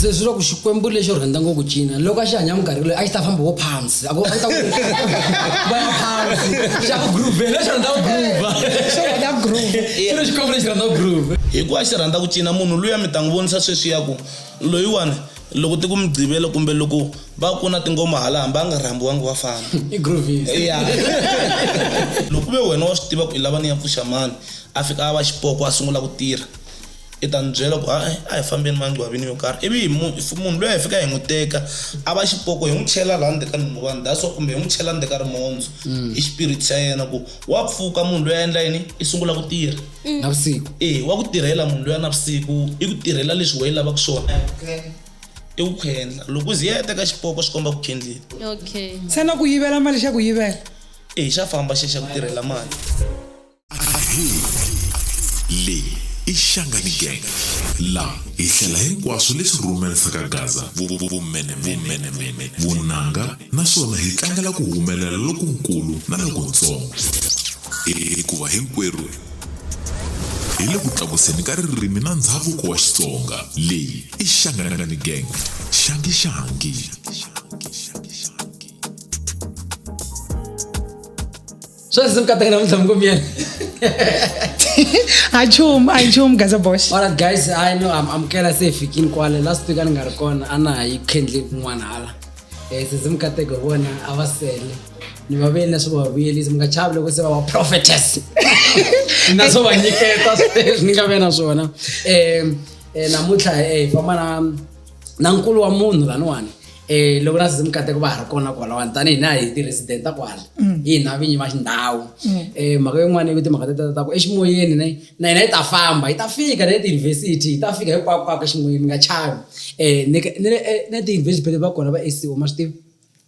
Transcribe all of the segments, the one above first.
se swi loko xikwembu lexo rhandza ngopfu cina loko a xi hanya minkarhi leyi a xi ta famba wo phansi a ta vaya phansi xa ku groove lexi rhandza ku groova xi rhandza ku groove xi ri xikwembu lexi rhandza ku groove hikuva xi rhandza ku cina munhu luya mi ta n'wi vonisa sweswi ya ku loyiwani loko ti ku migqivela kumbe loko va ku na tingoma hala hambi a nga rhambiwangi wa famba i groovies ya loko ve wena wa swi tiva ku i lava ni ya pfuxa mani a fika a va xipoko a sungula ku tirha i ta ni byela ku a a hi fambeni mangcwavini yo karhi ivi hi munhu loyi hi fika hi n'wi teka a va xipoko hi n'wi chela laha ndzeni ka nhunguvani that's wa kumbe hi n'wi chela ndzeni ka rimondzo mm. i xipiriti xa yena ku wa pfuka munhu loyi a endla yini i sungula ku tirha mm. navusiku e wa ku tirhela munhu loyi a navusiku i ku tirhela leswi weyi lavaka swona i ku khendla loko u ziya teka xipoko swi komba ku khendlile okay ntsena ku yivela mali xa ku yivela eyi xa famba xexa ku tirhela mali ahi leyi i xangani gang la hi hlela hinkwaswo leswi rhumerisaka gaza vumenemene vunanga naswona hi tlangela ku humelela lokunkulu na lokuntsongo hikuva hinkwerhu hi le ku tlakuseni ka ririmi na ndhavuko wa xitsonga leyi ishangalangani gang shangishangi swa ndzi kataka namuntlha mkomyeni a nchumu a nchumu gaza bosh alright guys i know am amukela se fikini kwale last week a ni nga ri kona a na ha yi khendli kun'wana hala um se ndzi mi kateke hi vona a va sele ni va vuyeli leswi va vuyelisi mi nga chavi loko se va va prophetess na swo va nyiketa sweswi ni nga ve na swona um eh, namuntlha eh, hi famba na na nkulu wa munhu laniwani eh loko na sizimu kateko va ha ri kona kwalawani tanihi na hi ti-resident ta kwala mm. hi hina vinyi va xindhawu mm. eh mhaka yin'wana yi timhaka teta ta ku eximoyeni na na hina yi ta famba yi ta fika na le tiyunivhesiti yi ta fika hinkwakwako eximoyeni mi nga chavi um eh, ni le eh, tiyunivhesiti phele va kona va sco ma swi tivi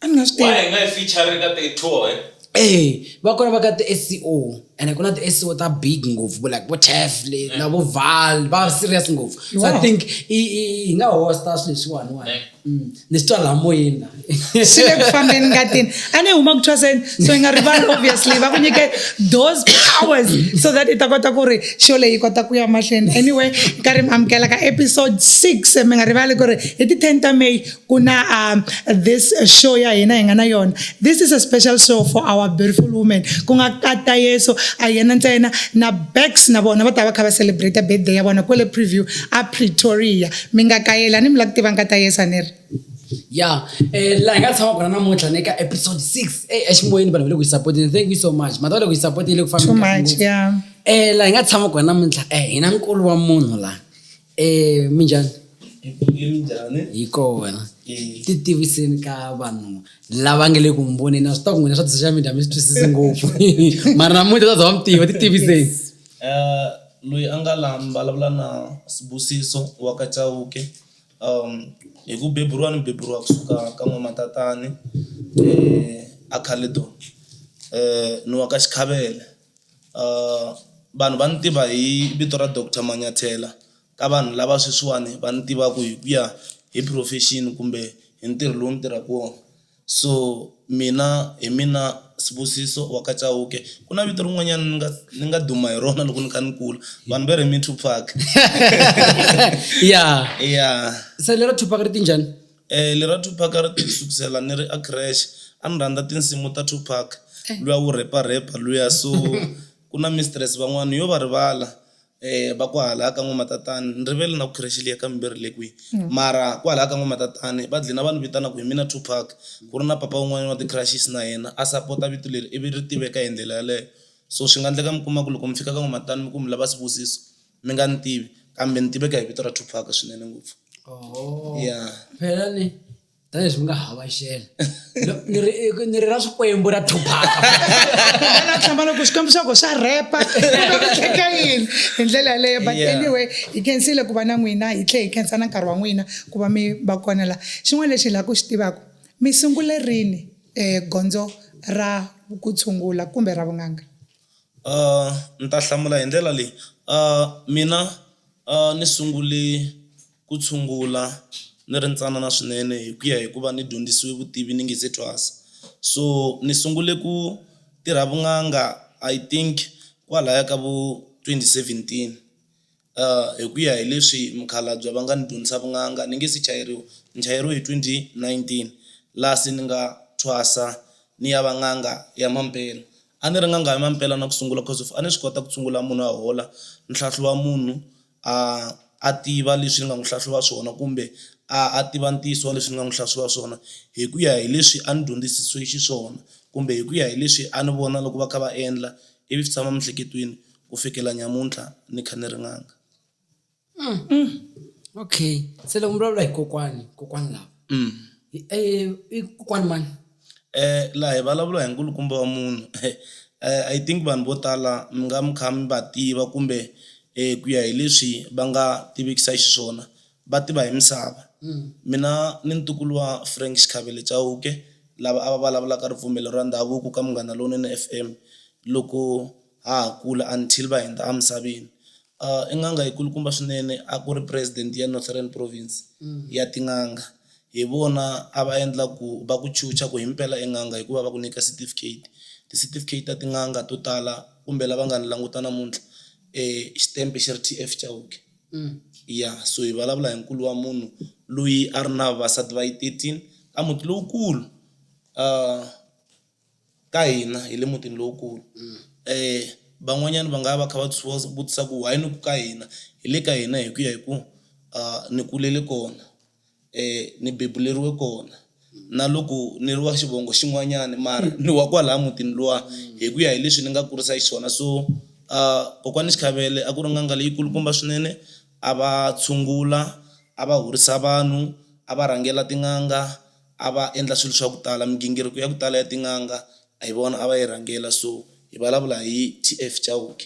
a ni nga swi tivi. Why hi nga yi feature-ri ka ti tour he? Eeh va kona va ka ti SCO ene ku na ti SCO ta big ngopfu vo like vo Taff le na vo Val va serious ngopfu. So I Wow. think i i hi nga host-a swilo leswiwani wani. Ne. Mm. Ni swi twa laha moyeni la. swi le ku fambeni ngatini a ni huma ku thwaseni so yi nga rivali obviously va ku nyike those powers so that i ta kota ku ri show leyi yi kota ku ya mahlweni anyway nkarhi mi amukela ka episode 6 mi nga rivali ku ri hi ti 10 ta may ku na uh, this show ya hina hi nga na yona this is a special show for our beautiful women ku nga kata yeso a yena ntsena na bax na vona va ta va kha va celebrate birthday ya vona kwele preview a pretoria mi nga kayela ni mi la ku tiva nkata yesa ni ri ya um eh, laha hi nga tshama kona namuntlha ni ka episode six e eh, eximoyeni vanhu va le ku yi sapoteni thank you so much mata va le ku yi sapoteni le ku fambea um eh, laha hi nga tshama kona namuntlha um hi na nkulu wa munhu laha minjhani? minjhani? Hi kona. Ti tiviseni ka vanhu lava nga le ku mi voneni a swi ta ku n'wina swa ti-social media mi swi twisisi ngopfu mara namuntlha ta za va mi tiva ti tiviseni. Eh, loyi a nga la mi vulavula na Sibusiso wa ka Chauke. Hi ku beburiwa ni beburiwa kusuka ka n'wamatatani a Caledon ni wa ka Xikhafela. vanhu va ni tiva hi vito ra doctor Manyathela ka vanhu lava sweswiwani va ni tivaka hi ku ya hi profession kumbe hi ntirho lowu ni tirhaka wona. So mina hi mina Sibusiso wa ka Chauke ku na vito rin'wanyana ni nga ni nga duma hi rona loko ni kha ni kula vanhu va ri hi Me Two Pac ya ya se lero two pac ri te njhani. Lera Tupac a ri tele sukusela ni ri a creche a ni rhandza tinsimu ta Tupac luya wu rhepa rhepa luya so ku na mistress van'wana yo va rivala va ku hala ka n'wamatatani ni rivele na ku creche liya ka Mimbirhi yi le kwihi mara kwalaya ka n'wamatatani va dlina va ni vitana ku hi mina Tupac ku ri na papa wun'wanyana wa ti-crushes na yena a sapota vito leri ivi ri tiveka hi ndlela yeleyo. So swi nga ndleka mi kuma ku loko mi fika ka n'wamatatani mi ku mi lava Sibusiso mi nga ni tivi kambe ni tiveka hi vito ra Tupac swinene ngopfu oh. ya phela ni tanihileswi mi nga hava xela ni ri ni ri ra swikwembu ra Tupac na tshama loko xikwembu xa ko xa repa tlheka yini hi ndlela yaleyo but anyway hi khensile ku va na n'wina hi tlhe hi khensa na nkarhi wa n'wina ku va mi va kona la xin'wana lexi hi lava ku xi tivaka mi sungule rini um gondzo ra ku tshungula kumbe ra vun'anga Ndzi ta hlamula hi ndlela leyi mina ni sungule ku tshungula ni ri ntsanana swinene hi ku ya hi ku va ni dyondzisiwe vutivi ni nga se thwasa. So ni sungule ku tirha vun'anga I think kwalaya ka vo twenty seventeen. Hi ku ya hi leswi mukhalabye va nga ni dyondzisa vun'anga ni nge se chayeriwa, ni chayeriwe hi twenty nineteen laha se ni nga thwasa ni ya va n'anga ya mampela. A ni ri n'anga ya mampela na ku sungula coz of a ni swi kota ku tshungula munhu a hola, ni hlahluva munhu a a tiva leswi ni nga n'wi hlahluva swona kumbe a a tiva ntiyiso wa leswi ni nga n'wi hlahluva swona hi ku ya hi leswi a ni dyondzisisiwe xiswona kumbe hi ku ya hi leswi a ni vona loko va kha va endla ivi swi tshama miehleketweni ku fikela nyamuntlha ni kha ni ri n'anga. Okay, se loko mi vulavula hi kokwani kokwani lava i kokwani mani? laha hi vulavula hi nkulukumba wa munhu I think vanhu vo tala mi nga mi kha mi va tiva kumbe ku ya hi leswi va nga tivekisa xiswona. va tiva hi misava. Mina ni ntukulu wa Frank Xikhavele Chauke lava a va vulavulaka ripfumelo ra ndhavuko ka Munghana Lonene FM loko ha ha kula until va hindza emisaveni. I n'anga yi kulukumba swinene a ku ri president ya Northern Province ya tin'anga. Hi vona a va endla ku va ku chucha ku himpela i n'anga hikuva va ku nyika certificate. Ti certificate ta tin'anga to tala kumbe lava nga ni languta namuntlha xitempe xi ri T_F Chauke. Ya so hi vulavula hi nkulu wa munhu loyi a ri na vavasati va yi thirteen ka muti lowukulu ka hina hi le mutini lowukulu van'wanyana va nga va kha va vutisa ku why ni ku ka hina hi le ka hina hi ku ya hi ku ni kulele kona. ni bebuleriwe kona na loko ni ri wa xivongo xin'wanyana mara ni wa kwalaya mutini luwa hi ku ya hi leswi ni nga kurisa xiswona so kokwani Xikhavele a ku ri n'anga leyi kulukumba swinene a va tshungula a va horisa vanhu a va rhangela tin'anga a va endla swilo swa ku tala migingiriko ya ku tala ya tin'anga hi vona a va yi rhangela so hi vulavula hi T_F Chauke.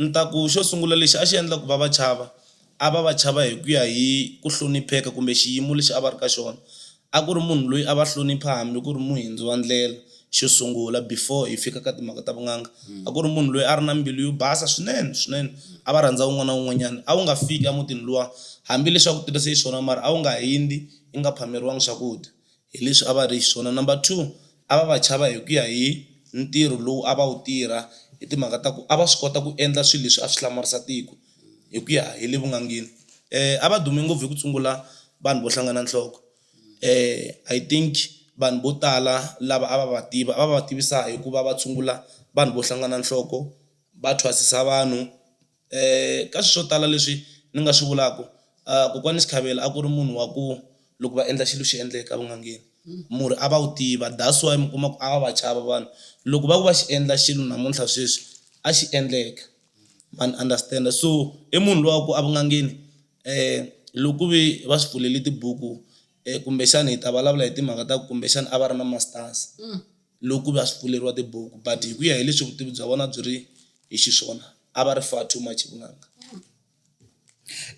Ni ta ku xo sungula lexi a xi endla ku va va chava a va va chava hi ku ya hi ku hlonipheka kumbe xiyimo lexi a va ri ka xona, a ku ri munhu loyi a va hlonipha hambi ku ri muhindzi wa ndlela xo sungula before hi fika ka timhaka ta vun'anga. A ku ri munhu loyi a ri na mbilu yo basa swinene swinene a va rhandza un'wana na un'wanyana, a wu nga fiki emutini luwa hambileswi a ku tirhise xiswona mara a wu nga hindzi i nga phameriwanga swakudya. hi leswi a va ri xiswona. Number two a va va chava hi ku ya hi ntirho lowu a va wu tirha hi timhaka ta ku a va swi kota ku endla swilo leswi a swi hlamarisa tiko hi ku ya hi le vunangeni. A va dume ngopfu hi ku tshungula vanhu vo hlangana nhloko I think vanhu vo tala lava a va va tiva a va va tivisa hi ku va va tshungula vanhu vo hlangana nhloko va thwasisa vanhu. ka swilo swo tala leswi ni nga swi vulaka kokwani Sikhavela a ku ri munhu wa ku loko va endla xilo xi endleka vun'angeni murhi a va wu tiva that's why mi kuma ku a va va chava vanhu loko va ku va xi endla xilo namuntlha sweswi a xi endleka ma ni understand so i munhu loyi wa ku evunangeni loko ku ve va swi pfuleli tibuku kumbexana hi ta vulavula hi timhaka ta kumbexana a va ri na masters. loko ku va swi pfuleriwa tibuku but hi ku ya hi leswi vutivi bya vona byi ri hi xiswona a va ri far too much vunanga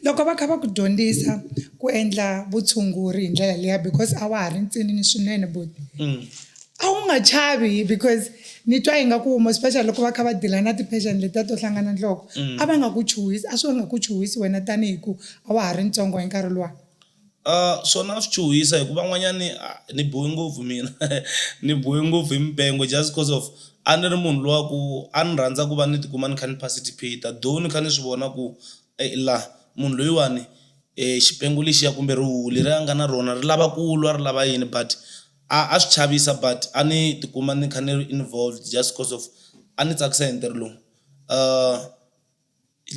loko va kha va ku dyondzisa ku endla vutshunguri hi ndlela liya because a wa ha ri ntsinini swinene buti mm. a wu nga chavi because ni twa yi nga ku wuma especially loko va kha va dila na ti-patient letiya to hlangana nhloko mm. a va nga ku chuhisi a swi va nga ku chuhisi wena tanihi ku a wa ha ri ntsongo hi nkarhi luwa Swona swi chuhisa hi ku van'wanyani ni biwe ngopfu mina ni biwe ngopfu hi mipengo just coz of a ni ri munhu luya ku a ni rhandza ku va ni tikuma ni kha ni participate-a though ni kha ni swi vona ku la munhu loyiwani xipengo lexiya kumbe rihuhu leri a nga na rona ri lava ku lwa ri lava yini but a a swi chavisa but a ni tikuma ni kha ni ri involved just coz of a ni tsakisa hi ntirho lowu .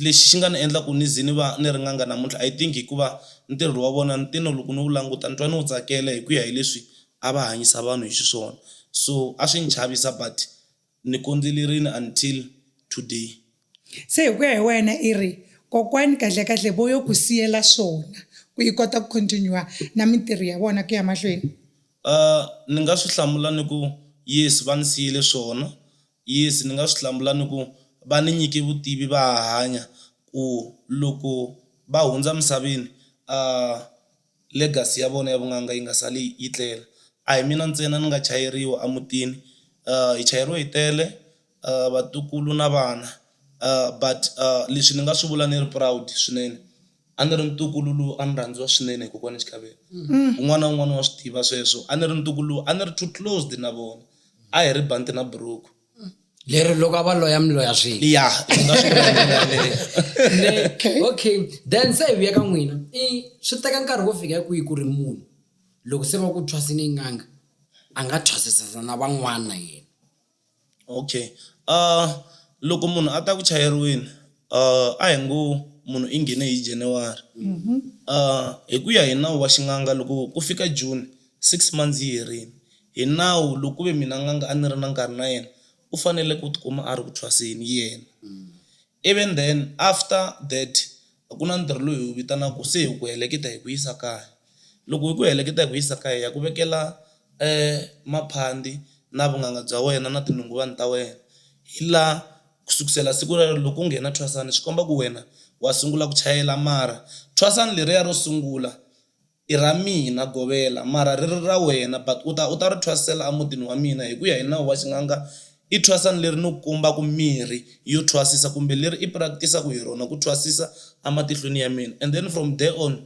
Lexi xi nga ni endla ku ni ze ni va ni ri n'anga namuntlha I think hikuva ntirho wa vona ni te ni loko ni wu languta ni twa ni wu tsakela hi ku ya hi leswi a va hanyisa vanhu hi xiswona, so a swi ni chavisa but ni kondzelerile until today. Se hi ku ya hi wena i ri kokwani kahlekahle vo yo ku siyela swona ku i kota ku continue na mintirho ya vona ku ya mahlweni? Ni nga swi hlamula ni ku yes va ni siyele swona Yes, ni nga swi hlamula ni ku, Va ni nyike vutivi va ha hanya, ku loko va hundza misaveni, a legacy ya vona ya vun'anga yi nga sali yi tlela. A hi mina ntsena ni nga chayeriwa emutini, hi chayeriwe hi tele vatukulu na vana but leswi ni nga swi vula ni ri proud swinene. A ni ri ntukulu lowu a ni rhandziwa swinene hi kokwana Xitlhavelo un'wana na un'wana wa swi tiva sweswo a ni ri ntukulu lowu a ni ri too closed na vona a hi ri banti na buruku lero loko a va loya mi loya swin'we ya hi nga swi vula hi ndlela yaleyo. Ne- okay then se hi vuya ka n'wina i swi teka nkarhi wo fika kwihi ku ri munhu loko se va ku thwasini n'anga a nga thwasisisa na van'wana na yena Okay loko munhu a ta ku chayeriweni a hi ngo munhu i nghene hi January hi ku ya hi nawu wa xin'anga loko ku fika June six months yi herile hi nawu loko ku ve mina n'anga a ni ri na nkarhi na yena u fanele ku tikuma a ri ku thwaseni yena. Even then after that ku na ntirho lowu hi wu vitanaka se hi ku heleketa hi ku yisa kaya, loko hi ku heleketa hi ku yisa kaya hi ya ku vekela maphandi na vunanga bya wena na tinhongolwana ta wena hi laha ku sukusela siku rero loko u nghena thwasana swi komba ku wena wa sungula ku chayela mara thwasana leriya ro sungula. I ra mina govela, mara ri ri ra wena, but u ta u ta ri thwasela emutini wa mina. Hi ku ya hi nawu wa xin'anga, i thwasani leri ni kumbaka mirhi yo thwasisa kumbe leri i practice-aka hi rona ku thwasisa ematihlweni ya mina and then from there on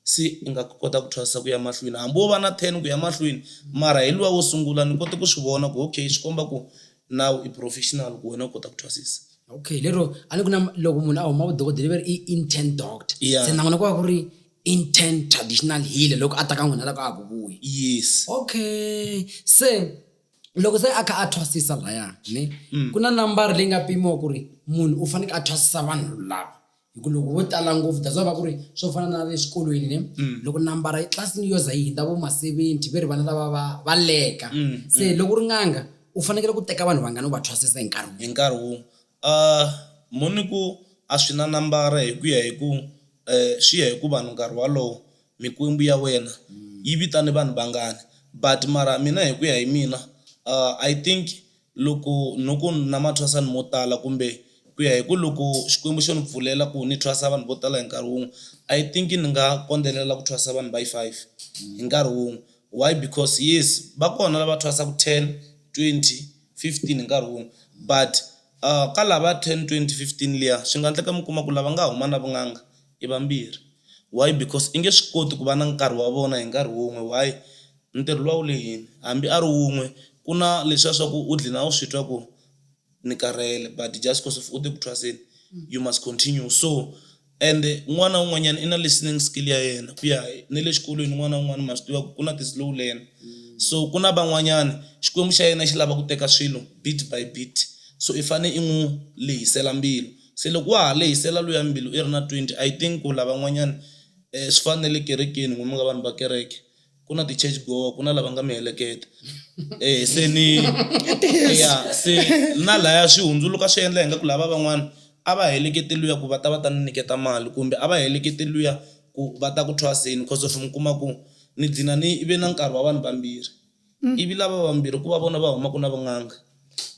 se i nga kota ku thwasisa ku ya mahlweni hambi wo va na ten ku ya mahlweni mara hi luwa wo sungula ni kote ku swi vona ku okay swi komba ku nawu i professional ku wena u kota ku thwasisa. Okay lero a ni ku na loko munhu a huma vudokodela va ri i intern doctor se na n'wina ku va ku ri intern traditional healer loko a ta ka n'wina loko a ha ku vuyi yes okay se loko se a kha a thwasisa laya ni mm. ku na nambara leyi nga pimiwa ku ri munhu u faneke a thwasisa vanhu lava hi ku loko vo tala ngopfu that's why va ku ri swo fana na le xikolweni ni mm. loko nambara etlilasini yo za yi hindza vo ma-seventy ve ri vana lava va va leka mm, se loko ri nganga u fanekele ku teka vanhu vangani u va thwasisa hi nkarhi hi nkarhi wun'we A Mhoni ku, A swi na nambara hi ku ya hi ku swi ya hi ku vanhu nkarhi walowo mikwembu ya wena yi vitane vanhu vangani but mara mina hi ku ya hi mina I think loko no ku na mathwasani mo tala kumbe ku ya hi ku loko Xikwembu xo ni pfulela ku ni thwasa vanhu vo tala hi nkarhi wun'we I think ni nga kondelela ku thwasa vanhu va yi five hi nkarhi wun'we. Why because yes va kona lava thwasaku 10, 20, 15 hi nkarhi wun'we but ka lava 10, 20, 15 liya swi nga ndleka mi kuma ku lava nga huma na vun'anga i vambirhi why because i nge swi koti ku va na nkarhi wa vona hi nkarhi wun'we why ntirho luwa wu lehini hambi a ri wun'we ku na leswiya swa ku u dlina u swi twa ku. ni karhele but just cause of u te ku thwaseni you must continue so and n'wana un'wanyana i na listening skill ya yena ku ya hi- ne le xikolweni n'wana un'wana ma swi tiva ku ku na ti-slow learner so ku na van'wanyana xikwembu xa yena xi lava ku teka swilo bit by bit so i fane i n'wi lehisela mbilu se loko wa ha lehisela luya mbilu i ri na twenty i think ku lavan'wanyani um swi fana na le kerekeni n'wina mi nga vanhu va kereke ku na ti-church goer ku na lava nga miheleketa eh se ni ya se na laya swi hundzuluka swi endla hi nga ku lava van'wana a va helekete luya ku va ta va ta ni nyiketa mali kumbe a va helekete luya ku va ta ku thwaseni cause of mi kuma ku ni gcina ni ve na nkarhi wa vanhu vambirhi ivi lava vambirhi ku va vona va humaka na vun'anga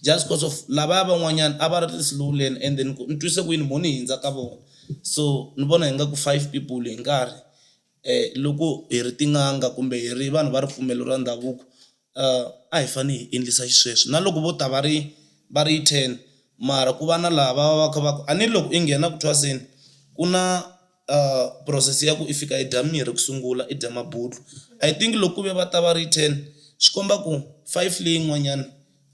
just cause of lavaya van'wanyana a va ri ti-slow learn and then ku ni twise ku yini mo ni hindza ka vona so ni vona hi nga ku five people hi nkarhi Loko hi ri tin'anga kumbe hi ri vanhu va ripfumelo ra ndhavuko a hi fanele hi endlisa xisweswo na loko vo ta va ri va ri ten mara ku va na laha va va va kha va ku a ni loko i nghena ku thwaseni ku na process ya ku i fika i dya mirhi ku sungula i dya mabulo. I think loko ku ve va ta va ri ten swi komba ku five leyin'wanyana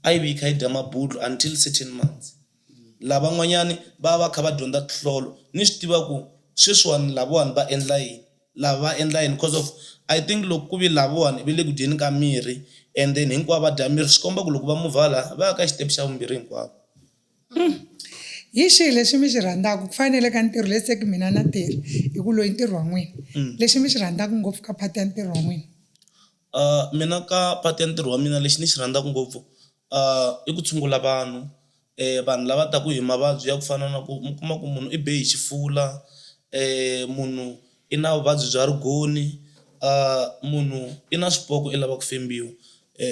a yi vi yi kha yi dya mabulo until certain months. Lavan'wanyani va va va kha va dyondza tinhlolo ni swi tiva ku sweswiwani lavawani va endla yini lava va endla yini coz of I think loko ku ve lavawani ve le ku dyeni ka mirhi and then hinkwavo va dya mirhi swi komba ku loko va muvha hala va ya ka xitepe xa vumbirhi hinkwavo. Hi xihi lexi mi xi rhandzaku ku fana na le ka ntirho let's say ku mina na tirha hi ku loyi ntirho wa n'wina lexi mi xi rhandzaku ngopfu ka part ya ntirho wa n'wina. Mina ka part ya ntirho wa mina lexi ni xi rhandzaka ngopfu i ku tshungula vanhu, vanhu lava taka hi mavabyi ya ku fana na ku mi kuma ku munhu i be hi xifula, munhu i na vuvabyi bya rigoni, munhu i na swipoko i lava ku fembiwa.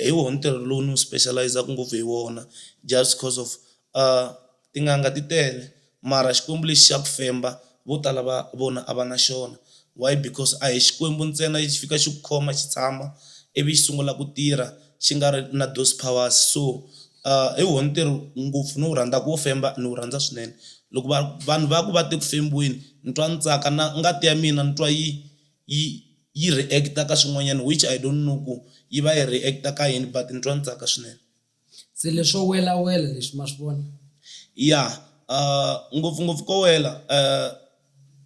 Hi wona ntirho lowu ni wu special-izaka ngopfu hi wona just coz of . Tin'anga ti tele mara xikwembu lexi xa ku femba vo tala va vona a va na xona why because a hi xikwembu ntsena lexi fika xi ku khoma xi tshama ivi xi sungula ku tirha xi nga ri na those powers so hi wona ntirho ngopfu ni wu rhandzaka wo femba ni wu rhandza swinene loko va vanhu va ku va te ku fembiweni ni twa ni tsaka na ngati ya mina ni twa yi yi yi react-a ka swin'wanyana which I don't know ku yi va yi react-a ka yini but ni twa ni tsaka swinene. Se leswo welawela leswi ma swi vona? Ya ngopfungopfu ko wela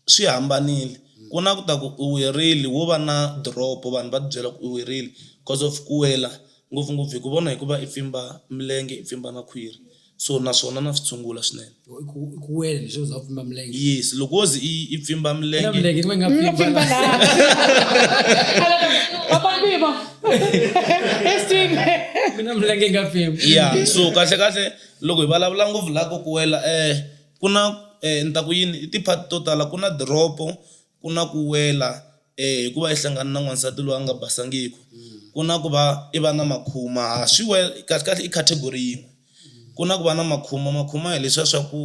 swi hambanile ku na ku ta ku u werile wo va na drop-o vanhu va tibyela ku u werile coz of ku wela ngopfungopfu hi ku vona hi ku va i pfimba milenge i pfimba na khwiri so naswona na swi tshungula swinene. I ku i ku wela leswi za pfimba milenge. yes loko wo ze i i pfimba Ina milenge milenge ni nga Nga pfimba pfimba laha. laha. Papa Mbibo. Eswini. Mina milenge yi nga pfimba. yeah so kahle kahle loko hi vulavula ngopfu laha ko ku wela um ku na um ni ta ku yini i ti-part to tala ku na diropo Ku na ku wela e hi ku va i hlangane na n'wansati loyi a nga basangiki, ku na ku va i va na makhuma, ha swi wel, kahlekahle i category yin'we. Ku na ku va na makhuma, makhuma hi leswiya swa ku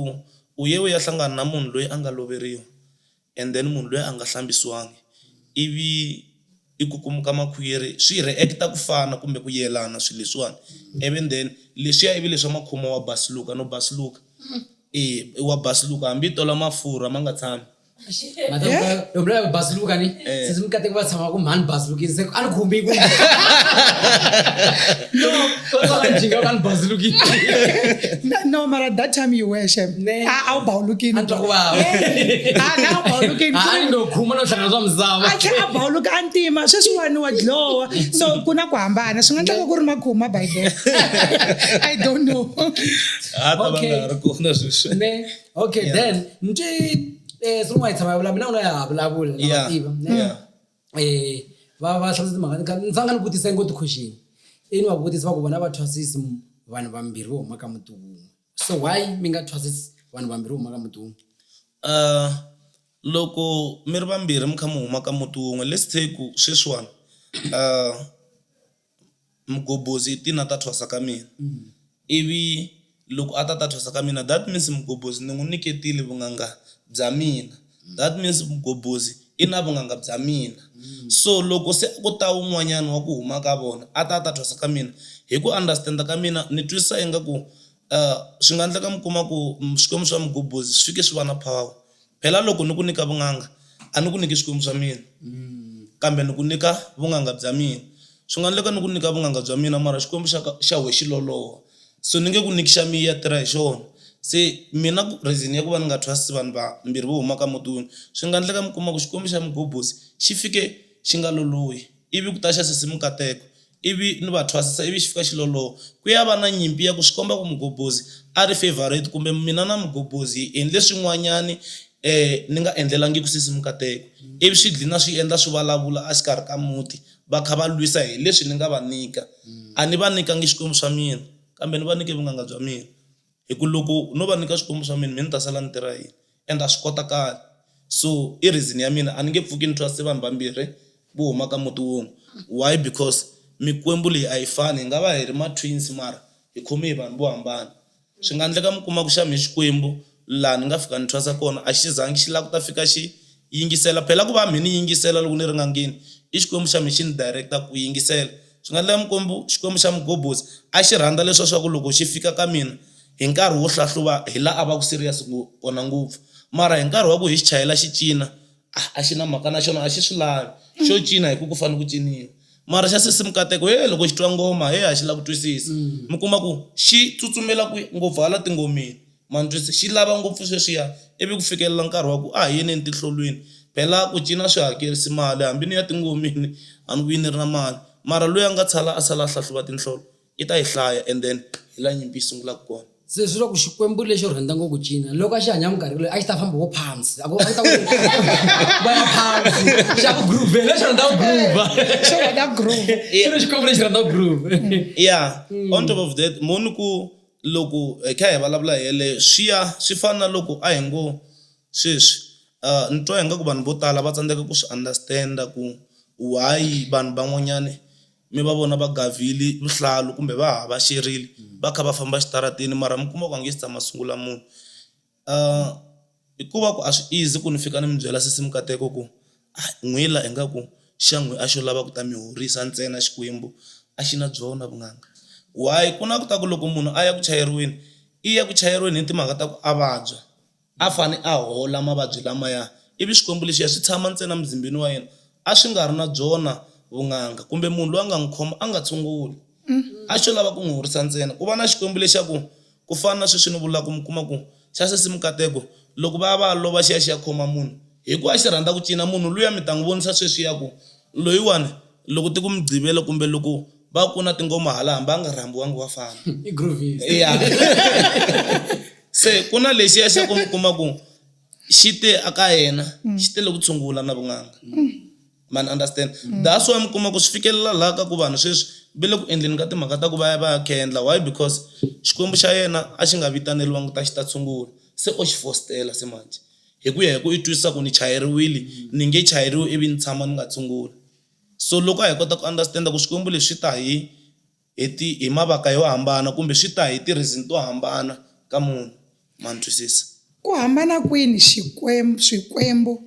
u ye u ya hlangana na munhu loyi a nga loveriwa and then munhu loyi a nga hlambisiwangi ivi i kukumuka makhwiri swi react-a ku fana kumbe ku yelana swilo leswiwani, ivi and then leswiya ivi leswa makhuma wa basuluka no basuluka, e wa basuluka hambi i tola mafurha ma nga tshami. matomvula kubhazuluka ni eh. since mukateki va tshama ku mhani bhazulukini se a ni khumbi ku njinga va ni bhazulukini no mara that time you were shem a wu bhawulukini a twa ku vava a wu bhawulukini a ni ndo khuma no hlangana swa misava a tlhe a bhawuluka a ntima sweswiwani wa dlowa so ku na ku hambana swi nga tlaka ku ri makhuma by then i don't know a ta va nga ri kona sweswi okay Yeah. then nti eh swi n'wi tshama vulavula mina u na ya vulavula na Yeah. vativa Yeah. eh va va hlamusela timhaka ni kha- ni fanga ni vutisa ngoti question i ni va vutisa va ku vona va thwasisi m- vanhu vambirhi vo huma ka muti wun'we so why mi nga thwasisi vanhu vambirhi vo huma ka muti wun'we uh, loko mi ri vambirhi mi kha mi huma ka muti wun'we let's take ku sweswiwani uh, Mgobhozi i tina ta thwasa ka mina ivi loko a ta ta thwasa ka mina that means mgobhozi ni n'wi nyiketile vunanga bya mina that means mgobhozi i na vunanga bya mina so loko se ku ta wun'wanyana wa ku huma ka vona a ta ta thwasa ka mina hi ku understand ka mina ni twisisa ingaku swi nga endleka mi kuma ku Xikwembu xa Mgobhozi swi fike swi va na power. Phela loko ni ku nyika vun'anga, a ni ku nyiki swikwembu swa mina, kambe ni ku nyika vun'anga bya mina. Swi nga endleka ni ku nyika vun'anga bya mina mara xikwembu xa ka xa wehe xi loloha, so ni nge ku nyiki xa mina, tirha hi xona. Se mina ku reason ya ku va ni nga trust vanhu vambirhi vo huma ka muti wun'we, swi nga endleka mi kuma ku xikwembu xa mugobhosi xi fike xi nga lolohi. Ivi ku ta xa sesi Mukateko, ivi ni va thwasisa ivi xi fika xi loloha. Ku ya va na nyimpi ya ku swi komba ku Mugobhozi a ri favourite kumbe mina na Mugobhozi hi endle swin'wanyani ni nga endlelangiki sesi Mukateko, ivi swi dlina swi endla swi valavula a xikarhi ka muti va kha va lwisa hi leswi ni nga va nyika. A ni va nyikangi Xikwembu xa mina kambe ni va nyike vun'anga bya mina. Hi ku loko no va nyika swikwembu swa mina, mina ni ta sala ni tirha yini? And a swi kotakali. So i reason ya mina, a ni nge pfuki ni trust-e vanhu vambirhi vo huma ka muti wun'we. Why? Because mikwembu leyi a yi fani. Hi nga va hi ri ma twins mara hi khome hi vanhu vo hambana. Swi nga ndleka mi kuma ku xa mehe Xikwembu laha ni nga fika ni trust-a kona a xi zangi xi lava ku ta fika xi Yingisela, Phela ku va mhe ni yingisela loko ni ri n'angeni i Xikwembu xa mhe xi ni direct-a ku yingisela. Swi nga endleka Mikwembu, Xikwembu xa Mugobotsi, a xi rhandza leswa swa ku loko xi fika ka mina hi nkarhi wo hlahluva hi la a va ku serious kona ngopfu. Mara hi nkarhi wa ku hi xi chayela xi cina, ah, a xi na mhaka na xona, a xi swi lavi. Xo cina hi ku ku fanele ku ciniwa. Mara xa sesi Mukateko, he, loko xi twa ngoma, he, a xi lavi ku twisisa. Mi kuma ku xi tsutsumela kwihi? Ngopfu hala tingomeni. Ma ntwisa? Xi lava ngopfu sweswiya, ivi ku fikelela nkarhi wa ku a hi yeni etihlolweni. Phela ku cina a swi hakerisi mali, hambi ni ya tingomeni a ni vuyi ni ri na mali. Mara loyi a nga tshala a sala a hlahluva tinhlolo, i ta yi hlaya and then hi laha nyimpi yi sungulaka kona. Se swi vula ku Xikwembu lexo rhandza ngopfu ku cina, loko a xi hanya minkarhi leyi a xi ta famba vo phamsi, a ku a ku ta ku va ya phamsi, xa ku groove-hela, lexi rhandza ku groove-a. Xi rhandza groove. Xi ri Xikwembu lexi rhandza groove. Yeah, on top of that, mo ni ku, Loko hi kha hi vulavula hi yeleyo, swi ya swi fana na loko a hi ngo sweswi ni twa ingaku vanhu vo tala va tsandzeka ku swi understand-a ku why vanhu van'wanyani mi va vona va gavhile vuhlalu kumbe va havaxerile va kha va famba exitarateni mara mi kuma ku a nge se tshama a sungula munhu. Ahh hikuva ku a swi easy ku ni fika ni mi byela sesi mikateko ku ahh n'wi la ingaku xa n'wi a xo lava ku ta mi horisa ntsena Xikwembu a xi na byona vunanga. Why ku na ku ta ku loko munhu a ya ku chayeriweni i ya ku chayeriweni hi timhaka ta ku a vabya a fane a hola mavabyi lamaya ivi Xikwembu lexiya xi tshama ntsena muzimbeni wa yena a swi nga ri na byona vunanga kumbe munhu loyi a nga n'wi khoma a nga tshunguli a xo lava ku n'wi horisa ntsena ku va na Xikwembu lexa ku. Ku fana na sweswi ni vulaka, mi kuma ku xa sesi mikateko loko va ya va ya lova xi ya xi ya khoma munhu hi ku a xi rhandza ku cina, munhu luya mi ta n'wi vonisa sweswiya ku loyiwani loko ti ku mi gqivela kumbe loko va ku na tingoma hala hambi a nga rhambiwangi wa fana. I groovist. Ya. Se ku na lexiya xa ku mi kuma ku xi te a ka yena xi te le ku tshungula na vun'anga. ma ni understand mm. that's why mi kuma ku swi fikelela laha ka ku vanhu sweswi va le ku endleni ka timhaka ta ku va ya va ya kendla why because xikwembu xa yena a xi nga vitaneriwangi ta xi ta tshungula se o xi fostela se manje hi ku ya hi ku i twisisa ku ni chayeriwile mm. ni nge chayeriwi ivi ni tshama ni nga tshungula so loko a hi kota ku understand-a ku swikwembu leswi ta hi hi ti hi mavaka yo hambana kumbe swi ta hi ti reason to hambana ka munhu ma ni twisisa. Ku hambana kwini xikwembu, swikwembu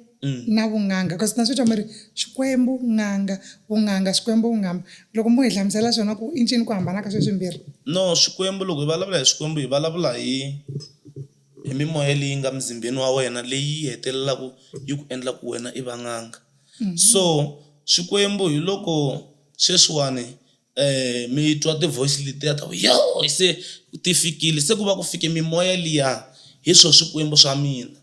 na vun'anga cause na swi twa mi ri swikwembu, n'anga, vun'anga, swikwembu, vunghamba loko mo hi hlamusela swona ku i ncini ku hambana ka sweswi mbirhi. No swikwembu loko hi valavula hi swikwembu hi valavula hi hi mimoya leyi nga muzimbeni wa wena leyi yi hetelelaku yi ku endla ku wena i va n'anga so swikwembu hi loko sweswiwani um mi twa ti-voice letiya ta ku yoh se ti fikile se ku va ku fike mimoya liya hi swo swikwembu swa mina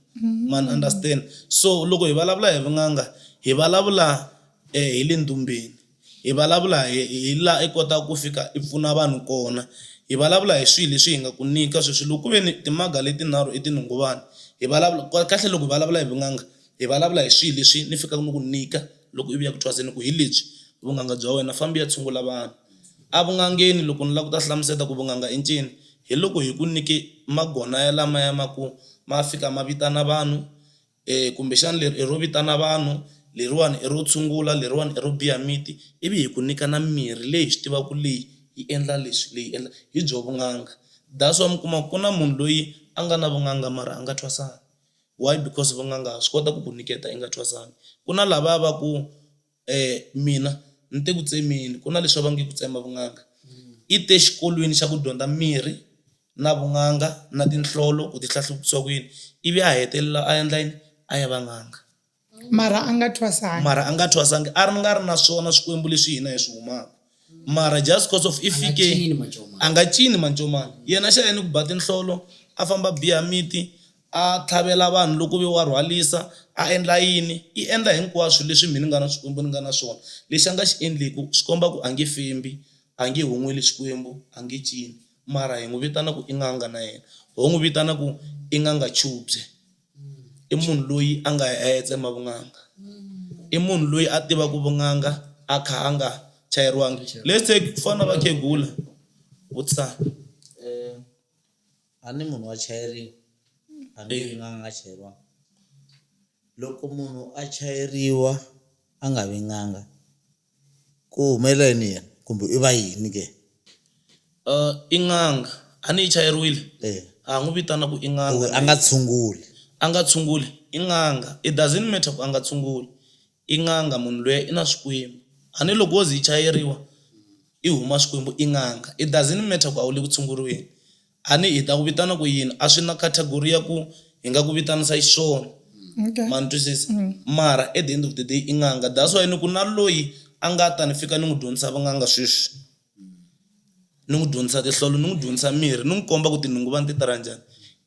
ma ni understand so loko hi vulavula hi vun'anga hi vulavula um hi le ndumbeni hi vulavula hi hi laha i kotaka ku fika i pfuna vanhu kona hi vulavula hi swilo leswi hi nga ku nyika sweswi loko ku ve ni timaga leti nharhu i tinhongovana hi vulavula kahle loko hi vulavula hi vun'anga hi vulavula hi swilo leswi ni fikaka ni ku nyika. Loko i vuya ku thwaseni ku hi lebyi vun'anga bya wena, famba i ya tshungula vanhu. Evun'angeni loko ni lava ku ta hlamuseta ku vun'anga i ncini, hi loko hi ku nyike magona yalamaya ma ku ma fika ma vitana vanhu kumbexana leri i ro vitana vanhu, leriwani i ro tshungula, leriwani i ro biya miti ivi hi ku nyika na mirhi leyi hi swi tivaka ku leyi yi endla leswi leyi endla hi byo vun'anga. That's why mi kuma ku na munhu loyi a nga na vun'anga mara a nga thwasanga. Why? Because vun'anga swi kota ku ku nyiketa i nga thwasanga. Ku na lavaya va ku mina ni te ku tsemeni ku na leswi va nge ku tsema vun'anga i te xikolweni xa ku dyondza mirhi na vun'anga na tinhlolo ku ti hlahluva ku yini ivi a hetelela a endla yini a ya va n'anga. Mara a nga thwasangi. Mara a nga thwasangi. A ri nga ri na swona swikwembu leswi hina hi swi humaka. Mara just because of i fike, a nga cini mancomani. Yena xa ya ni ku ba tinhlolo, a famba a biha miti, a tlhavela vanhu loko ve wa rhwalisa, a endla yini. I endla hinkwaswo leswi mhi ni nga na swikwembu ni nga na swona. Lexi a nga xi endleku swi komba ku a nge fembi, a nge hon'weli Xikwembu, a nge cini. Mara hi n'wi vitana ku i n'anga na yena. Ho n'wi vitana ku i n'anga chubye. i munhu loyi a nga ya a ya tsema vun'anga i munhu loyi a tivaka vun'anga a kha a nga chayeriwangi let's say ku fana na vakhegula vutisana um a ni munhu wa chayeriwa a ni vi nga nga chayeriwanga loko munhu a chayeriwa a nga vi n'anga Ku humelela yini yena kumbe i va yini ke? I n'anga. A ni yi chayeriwile? A ha n'wi vitana ku i n'anga. Ku a nga tshunguli. A nga tshunguli, i n'anga. It doesn't matter ku a nga tshunguli, i n'anga munhu luya i na swikwembu. A ni loko wo ze yi chayeriwa i huma swikwembu i n'anga. It doesn't matter ku a wu le ku tshunguriweni, A ni hi ta ku vitana ku yini? A swi na category ya ku hi nga ku vitanisa xiswona. Okay. Ma ni twisisa? Mara at the end of the day i n'anga. That's why ni ku na loyi a nga ta ni fika ni n'wi dyondzisa vun'anga sweswi, ni n'wi dyondzisa tinhlolo, ni n'wi dyondzisa mirhi, ni n'wi komba ku tinhunguva ni ti tirha njhani,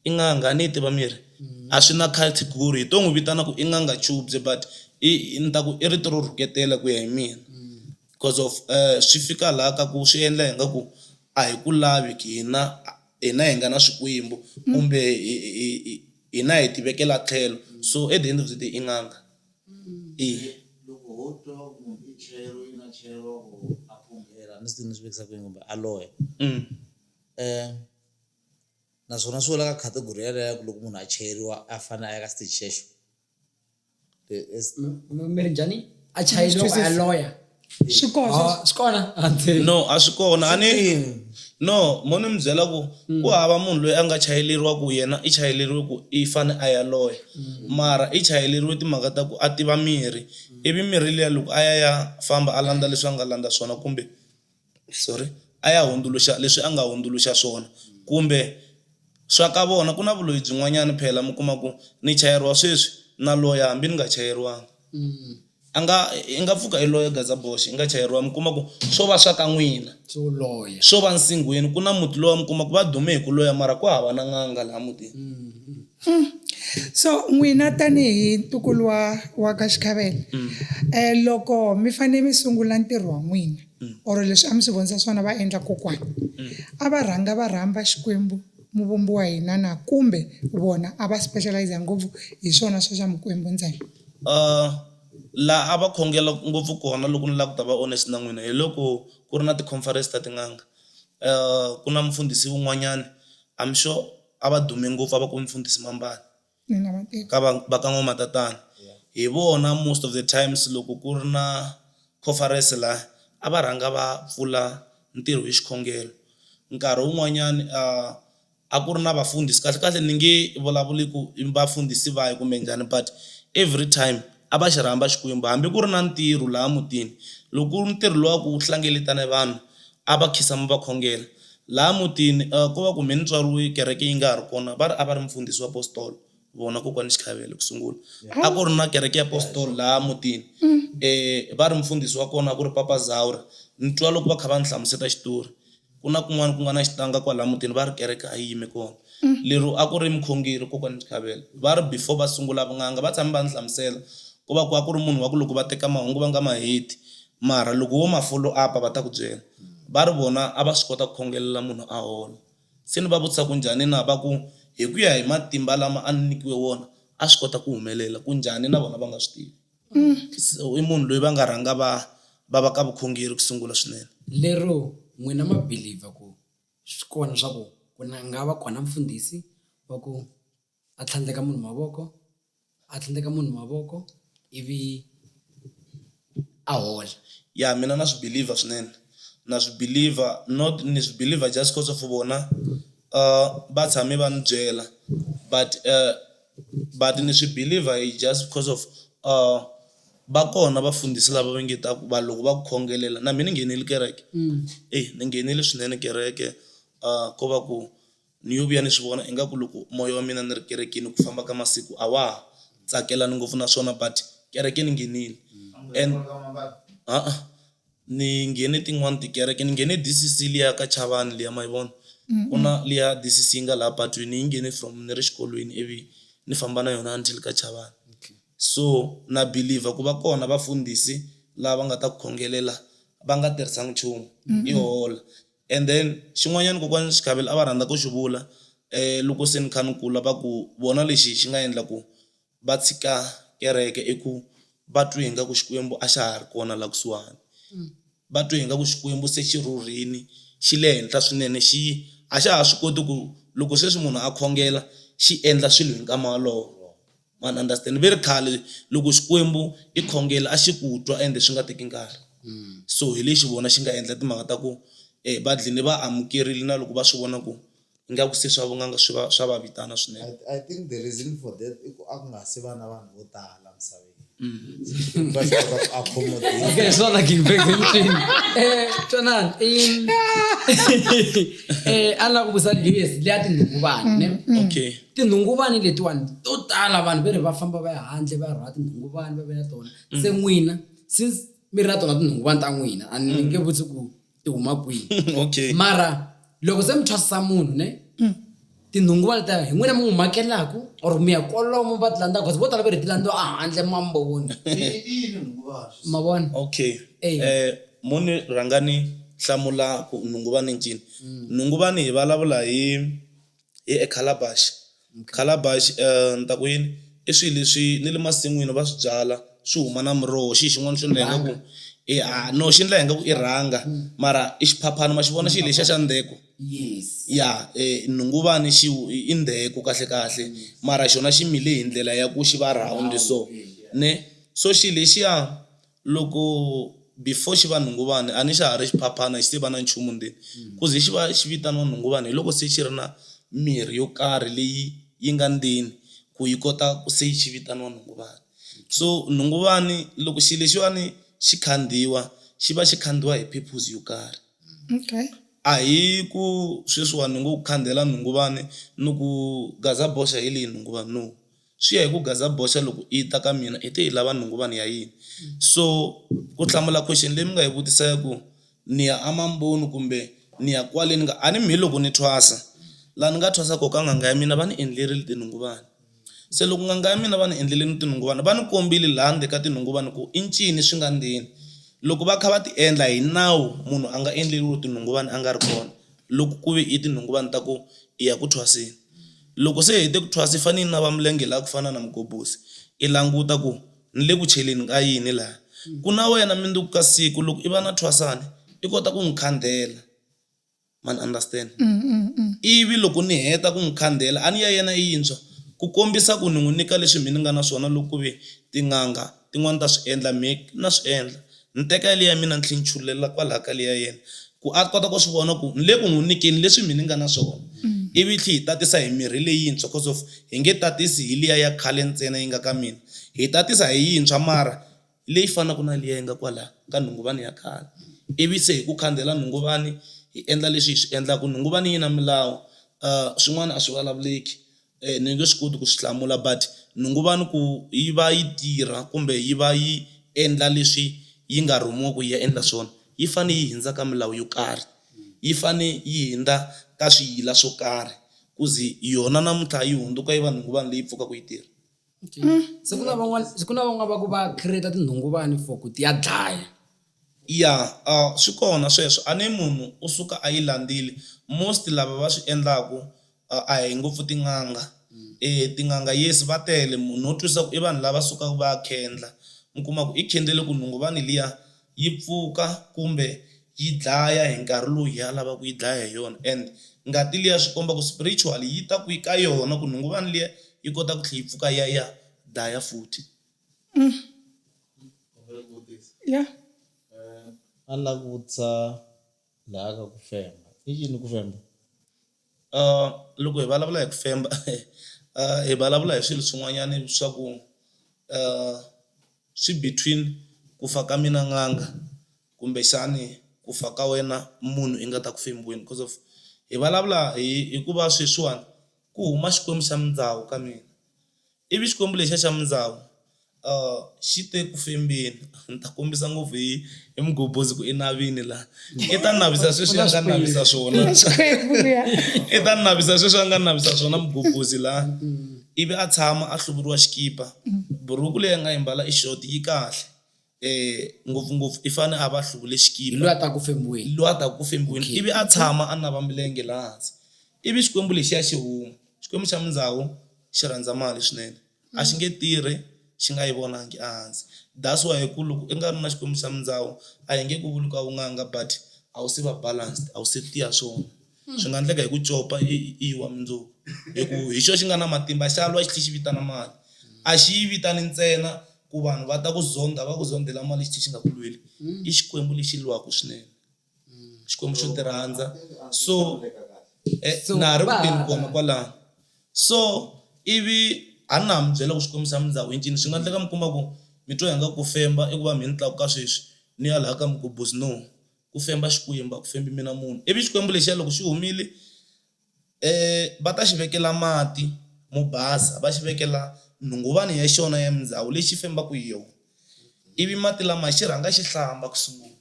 i n'anga. A ni yi tiva mirhi? A swi na category. Hi to n'wi vitana ku i n'anga chubye but i i ni ta ku i rito ro rhuketela ku ya hi mina coz of swi fika laha ka ku swi endla ingaku A hi ku lavi ki hina, hina hi nga na swikwembu kumbe hi, hi, hi, hina hi ti vekela tlhelo. So at the end of the day i n'anga. Eya. Loko ho twa ku munhu i chero, i na chero or a phunghela, a ni swi tivi ni swi vekisa ku yini kumbe a loya. Naswona swi wela ka category yaleyo ya ku loko munhu a cheriwa a fanele a ya ka xitichi xexo. mirinjani a chayi loko a ya loya swi kona swi kona no a swi kona a ni no mo ni mi byela ku hmm. ku hava munhu loyi a nga chayeleriwa ku yena i chayeleriwe ku i fane a ya loya hmm. mara i chayeleriwe timhaka ta ku a tiva mirhi hmm. ivi mirhi liya loko a ya ya famba a landza leswi a nga landza swona kumbe sorry a ya hundzuluxa leswi a nga hundzuluxa swona kumbe swa ka vona ku na vuloyi byin'wanyana phela mi kuma ku ni chayeriwa sweswi na loya hambi ni nga chayeriwanga Mm. a nga i nga pfuka i loya gazaboxe i nga chayeriwa mi kuma ku swo va swa ka n'wina So loye. swo va nsinghweni ku na muti lowa mi kuma ku va dume hi ku loya mara ku hava na n'anga laha mutini Mm. Mm. So n'wina tanihi ntukulu wa wa ka Xikhavela mm. eh loko mi fanele mi sungula ntirho wa n'wina mm. or leswi a mi swi vonisa swona va endla kokwana mm. a va rhanga va rhamba Xikwembu muvumbi wa hina na kumbe vona a va specialize ngopfu hi swona swa swa Mikwembu ntsena uh la a va khongela ngopfu kona loko ni la ku ta va honest na n'wina hi loko ku ri na ti-conference ta tin'anga uh ku na mufundhisi wun'wanyana I'm sure a va dume ngopfu a va ku mfundhisi mambani ka va va ka n'wamatatana hi vona most of the times loko ku ri na conference la a va rhanga va pfula ntirho hi xikhongelo nkarhi wun'wanyani a a ku ri na vafundhisi kahle kahle ni nge vulavuli ku i vafundhisi va hi kumbe njhani but every time a va xi rhamba Xikwembu hambi ku ri na ntirho laha mutini loko ku ri ntirho luwa ku hlengeletana vanhu A va khisamu va khongela. Laha mutini ko va kumbe ni tswariwe kereke yi nga ha ri kona, va ri a va ri mufundhisi wa postolo vona kokwani Xikhayele ku sungula. A ku ri na kereke ya postolo laha mutini, va ri mufundhisi wa kona a ku ri Papa Zaura. Ni twa loko va kha va ni hlamuseta xitori, ku na kun'wana ku nga na xitanga kwalaya mutini va ri kereke a yi yime kona. Lero a ku ri mukhongeri kokwani Xikhayele. Va ri before va sungula vun'anga va tshame va ni hlamusela ku va ku a ku ri munhu wa ku loko va teka mahungu va nga ma heti, Mara loko wo ma follow up-a va ta ku byela va ri vona a va swi kota ku khongelela munhu a hola. Se ni va vutisa ku njhani na, va ku hi ku ya hi matimba lama a ni nyikiwe wona a swi kota ku humelela, ku njhani na vona va nga swi tivi. So i munhu loyi va nga rhanga va va va ka vukhongeri ku sungula swinene. Lero n'wina ma believe-a ku swi kona swa ku ku na nga va kona mfundhisi wa ku. a tlhandleka munhu mavoko a tlhandleka munhu mavoko ivi a hola. Ya mina na swi believer swinene na swi believer not ni swi believer just coz of vona va tshame va ni byela but but ni swi believer hi just coz of va kona vafundhisi lava va nge ta ku vanhu loko va ku khongelela na me ni nghenile kereke ni nghenile swinene kereke ko va ku Ni yo vuya ni swi vona ingaku loko moya wa mina ni ri kerekeni hi ku famba ka masiku a wa ha tsakelani ngopfu naswona but kereke ni nghenile and ha-a ni nghene tin'wani tikereke ni nghene D_C_C liya ka Chavani liya ma yi vona ku na liya D_C_C yi nga laha patwini yi nghene from ni ri xikolweni ivi ni famba na yona until ka Chavani so na believer ku va kona vafundhisi lava nga ta ku khongelela va nga tirhisanga nchumu yi hola. And then xin'wanyana kokwani Xikhavela a va rhandza ku xi vula loko se ni kha ni kula va ku vona lexi xi nga endla ku va tshika kereke i ku va twe ingaku Xikwembu a xa ha ri kona la kusuhani, va twe ingaku Xikwembu se xi rhurhile xi le henhla swinene xi a xa ha swi koti ku loko sweswi munhu a khongela xi endla swilo hi nkama wolowo. ma ni understand ve ri khale loko xikwembu i khongela a xi ku twa ende swi nga teki nkarhi mm. so hi lexi vona xi nga endla timhaka ta ku um va dlini va amukerile na loko va swi vona ku ingaku se swa vun'anga swi va swa va vitana swinene I think the reason for that i ku a ku nga si va na vanhu vo tala misaveni mm. va swi kota ku accommodate hi swona king bag emutini eh twanani eh a ni lava ku vutisa leyi leyi ya tindhungu vanhu ne mm, mm. okay Tinhunguvani letiwani to tala vanhu veri va famba va ya handle va ya rhwala tinhunguvani va veka tona mm. se n'wina since mi ri na tona tinhunguvani ta n'wina a ni mm. nge vutsi ku ti huma kwihi okay. mara loko se mi thwasisa munhu ne mm. tinhunguvani ta hi n'wina mi n'wi makelaku or mi ya kolomo va ti landza cause vo tala va ri ti landziwa ahandle mamboni ma vona okay hey. eh, moni rhangani hlamula ku nhunguvani ncini mm. nhunguvani hi vulavula hi Hi e calabash. Calabash ni ta ku yini i swilo leswi ni le masin'wini va swi byala swi huma na muroho xi xin'wana xo endla ingaku i a no xi endla ingaku i rhanga mara i xiphaphana ma xi vona xilo lexiya xa ndzheku ya nhunguvani xi i ndzheku kahle kahle mara xona xi mile hi ndlela ya ku xi va round so ne so xilo lexiya Loko before xi va nhunguvani a ni xa ha ri xiphaphana xi se va na nchumu ndzeni. Ku ze xi va xi vitaniwa nhunguvani hi loko se xi ri na mirhi yo karhi leyi yi nga ndzeni ku yi kota ku se xi vitaniwa nhunguvani. So nhunguvani loko xilo lexiwani xi khandziyiwa xi va xi khandziyiwa hi purpose yo karhi. Okay. A hi ku sweswiwani ni ngo ku khandziyela nhunguvani ni ku gaza boxa hi leyi nhunguvani no. Swi ya hi ku gaza boxa loko yi ta ka mina i te yi lava nhunguvani ya yini so ku hlamula question leyi mi nga yi vutisa ya ku ni ya a mamboni kumbe ni ya kwale ni nga a ni mi hi loko ni thwasa laha ni nga thwasa koho ka n'anga ya mina va ni endlerile tinhunguvani. Se loko n'anga ya mina va ni endleleni tinhunguvani va ni kombile laha ndzeni ka tinhunguvani ku i ncini swi nga ndzeni, loko va kha va ti endla hi nawu munhu a nga endleriwi tinhunguvani a nga ri kona loko ku ve i tinhunguvani ta ku i ya ku thwaseni. Loko se hi hete ku thwasa, i fanele i nava milenge laha ku fana na mugobhosi, i languta ku, Ni le ku cheleni ka yini laha? Ku na wena mundzuku ka siku loko i va na thwasani, i kota ku n'wi khandhela. Ma ni understand? Ivi loko ni heta ku n'wi khandhela, a ni ya yena i yintshwa, ku kombisa ku ni n'wi nyika leswi mina ni nga na swona loko ku ve tin'anga, Tin'wana ta swi endla, me na swi endla. Ni teka yaliya ya mina ni tlhela ni chululela kwalaha ka leyi ya yena, ku a kota ku swi vona ku ni le ku n'wi nyikeni leswi mina ni nga na swona, ivi hi tlhela hi tatisa hi mirhi leyintshwa coz of hi nge tatisi hi liya ya khale ntsena yi nga ka mina, hi tatisa hi yintshwa mara leyi fanaka na liya yi nga kwala ka nhunguvani ya khale, ivi se hi ku khandziyela nhunguvani hi endla leswi hi swi endlaka, nhunguvani yi na milawu swin'wana a swi vulavuleki ni nge swi koti ku swi hlamula but ni ngo va ni ku yi va yi tirha kumbe yi va yi endla leswi yi nga rhumiwa ku yi ya endla swona yi fanele yi hundza ka milawu yo karhi, yi fanele yi hundza ka swiyila swo karhi ku ze yona namuntlha yi hundzuka yi va nhunguvani leyi pfukaka yi tirha. se ku na van'wani se ku na van'wani va ku va create tinhunguvani for ku ti ya dlaya. Ya swi kona sweswo a ni munhu u suka a yi landzile most lava va swi endlaku a hi ngopfu tin'anga tin'anga yes va tele munhu no twisisa ku i vanhu lava sukaka va ya khendla mi kuma ku i khendzele ku nhunguvani liya yi pfuka kumbe yi dlaya hi nkarhi lowu yena a lavaka ku yi dlaya hi yona and ngati liya swi komba ku spiritually yi ta kwihi ka yona ku nhunguvani liya yi kota ku tlhela yi pfuka ya ya dlaya futhi. Yeah. A ni lava ku vutisa laha ka ku femba i yini ku femba? Loko hi vulavula hi ku famba hi vulavula hi swilo swin'wanyana swa ku swi between ku fa ka mina n'anga kumbexani ku fa ka wena munhu i nga ta ku fembeni coz of hi vulavula hi hikuva sweswiwani ku huma Xikwembu xa mindyangu ka mina. Ivi Xikwembu lexiya xa mindzhawu xi te ku fembeni, Ni ta kombisa ngopfu hi, hi mugobhozi ku i navini laha. I ta navisa sweswi a nga navisa swona, Xikwembu luya. i ta navisa sweswi a nga navisa swona mugobhozi laha. Ivi a tshama a hluvuriwa xikipa, buruku leyi a nga yi mbala i xoti, yi kahle. E, ngopfu-ngopfu i fane a va hluvule Hi xikipa, loyi a ta ku fembiweni. hi loyi a taka ku fembiweni, Okay. ivi a tshama a nava milenge laha hansi. Ivi Xikwembu lexiya xi huma, Xikwembu xa mindzawu xi rhandza mali swinene, a xi nge tirhi xi nga yi vonangi ehansi. That's why ku loko i nga ri na Xikwembu xa mindzawu a hi nge ku vuli ku a wu nganga but a wu se va balanced, a wu se tiya swona. Swi nga ndleka hi ku copa i i wa mundzuku, hi ku hi xo xi nga na matimba xa lwa xi tlhi xi vitana mali. A xi yi vitani ntsena ku vanhu va ta ku zondha va ku zondhela mali xi tlhi xi nga ku lweli. I Xikwembu lexi lwaku swinene, Xikwembu xo tirhandza so na ha ri ku teni kona kwalano. So ivi a na ha mi byela ku Xikwembu xa mi ndza ku hi ncini swi nga ndleka mi kuma ku mi twa ingaku ku femba i ku va mhe ni tlakuka sweswi ni ya laha ka migubuzinomu. ku femba Xikwembu, a ku fembi mina munhu. Ivi Xikwembu lexiya loko xi humile, va ta xi vekela mati mo basa, va xi vekela nhunguvani ya xona ya mindzawu leyi xi fembaka hi yona. Ivi mati lamaya xi rhanga xi hlamba ku sungula,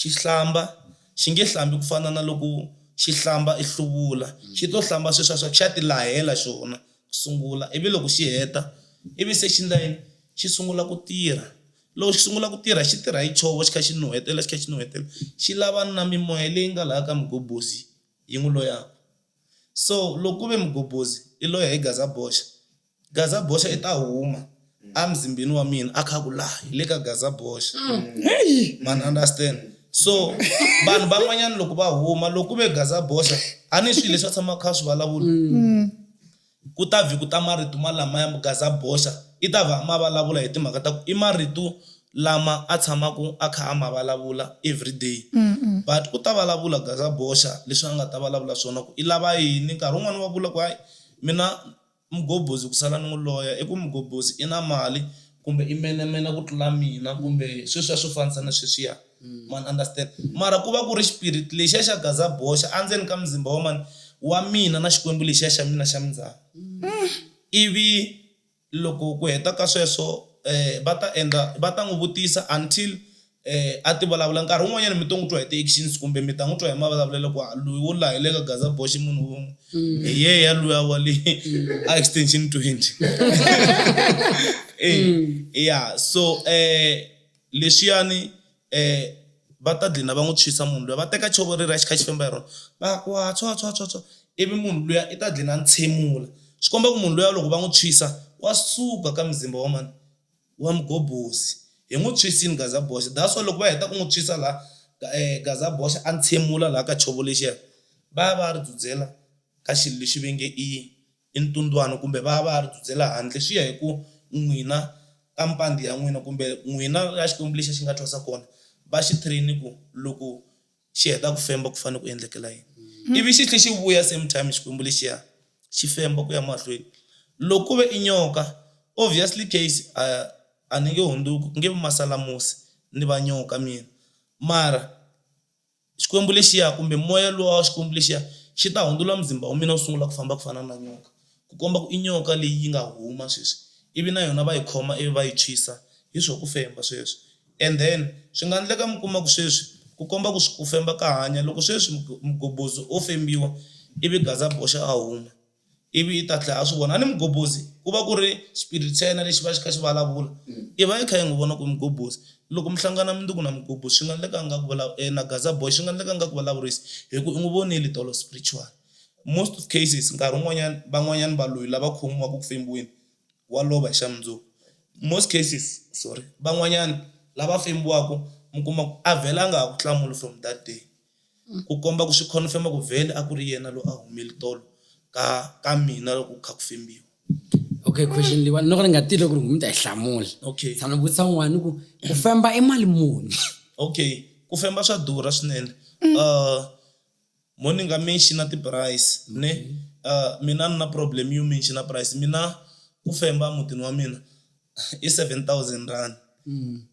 xi hlamba, xi nge hlambi ku fana na loko xi hlamba ehluvula, xi to hlamba sweswiya swa ku xa ti lahela xona ku sungula. Ivi loko xi heta, ivi se xi endla yini? Xi sungula ku tirha, Loko xi sungula ku tirha xi tirha hi chovo xi kha xi nuhetela xi kha xi nuhetela xi lava na mimoya leyi nga laha ka mugobhozi yi n'wi loyaka so loko ku ve mugobhozi i loyi hi gaza boxa gaza boxa i ta huma emzimbeni wa mina a kha ku laha hi le ka gaza boxa man understand so vanhu van'wanyana loko va huma loko ku ve gaza boxa a ni swilo leswi a tshamaka kha swi vulavula Ku ta vhi ku ta marito malamaya Mugaz'a boxa, i ta vha a ma valavula hi timhaka ta ku i marito lama a tshamaka a kha a ma valavula everyday. But u ta valavula Gaz'a boxa leswi a nga ta valavula swona ku i lava yini. Nkarhi wun'wana wa vula ku hayi mina Mgobozi ku sala ni n'wi loya i ku Mgobozi i na mali kumbe i menemene ku tlula mina kumbe sweswiya swo fanisa na sweswiya. Ma ni understand? Mara ku va ku ri xipiriti lexiya xa gaza boxa endzeni ka muzimba wa mani? Wa mina na Xikwembu lexiya xa mina xa mindzhaka. Ivi loko ku heta ka sweswo va ta endla, va ta n'wi vutisa until a ti vulavula. Nkarhi wun'wanyana mi to n'wi twa hi ti-actions kumbe mi ta n'wi twa hi mavulavulelo ku haa loyi wo laha hi le ka gaza boxa i munhu wun'we, hi yeya luya wa le a extension twenty. E, ya so Leswiyani e va ta dlina va n'wi tshwisa munhu luya, va teka chovo reriya xi kha xi femba hi rona va ku ha tshwa tshwa tshwa tshwa ivi munhu luya i ta dlina a ntshemula swi komba ku munhu luya loko va n'wi tshwisa wa suka ka muzimba wa mani wa mughobozi hi n'wi tshwisini gaza boxa that's why loko va heta ku n'wi tshwisa la gaza boxa a ntshemula la ka chovo lexiya va ya va ya ri dzudzela ka xilo lexi va nge i. i ntundwano kumbe va ya va ya ri dzudzela handle swi ya hi ku n'wina ka mpandhi ya n'wina kumbe n'wina la Xikwembu lexi a xi nga thwasa kona va xi train ku loko xi heta ku femba ku fanele ku endlekela yini ivi xi tlhe xi vuya same time Xikwembu lexiya xi femba ku ya mahlweni loko ku ve i nyoka obviously case a a ni nge hundzuki ku nge vi masalamusi ni va nyoka mina mara Xikwembu lexiya, kumbe moya luwa wa Xikwembu lexiya, xi ta hundzula muzimba wa mina wu sungula ku famba ku fana na nyoka, ku komba ku i nyoka leyi yi nga huma sweswi, ivi na yona va yi khoma ivi va yi tshwisa hi swo ku femba sweswi. And then, swi nga ndleka mi kuma ku sweswi, ku komba ku swo ku femba ka hanya, loko sweswi mugobhozi o fembiwa, ivi gaza boxa a huma. ivi i ta tlhela a swi vona. A ni mugobhozi ku va ku ri xipiriti xa yena lexi va xi kha xi vulavula, i va i kha i n'wi vona ku i mugobhozi. Loko mi hlangana mi ku na mugobhozi swi nga endleka a nga ku na gaza boy swi nga endleka a nga ku vulavurisi hi ku i n'wi vonile tolo spiritual. Most of cases nkarhi wun'wanyana van'wanyana valoyi lava khomiwaka ku fembiweni wa lova hi xa mundzuku, most cases sorry van'wanyana lava fembiwaka mi kuma ku a vhela a nga ha ku hlamuli from that day. Ku komba ku swi khonfema ku vhele a ku ri yena loyi a humele tolo ka ka mina loko ku kha ku fembiwa. Okay, question leyiwani loko ni nga tivi loko ri mi ta yi hlamula. Okay. Tshama ni vutisa un'wana ni ku ku femba i mali muni? Okay, ku femba swa durha swinene mo ni nga mention-a ti-price ne mina a ni na problem yo mention-a price mina ku femba mutini wa mina. i 7000 rand mm.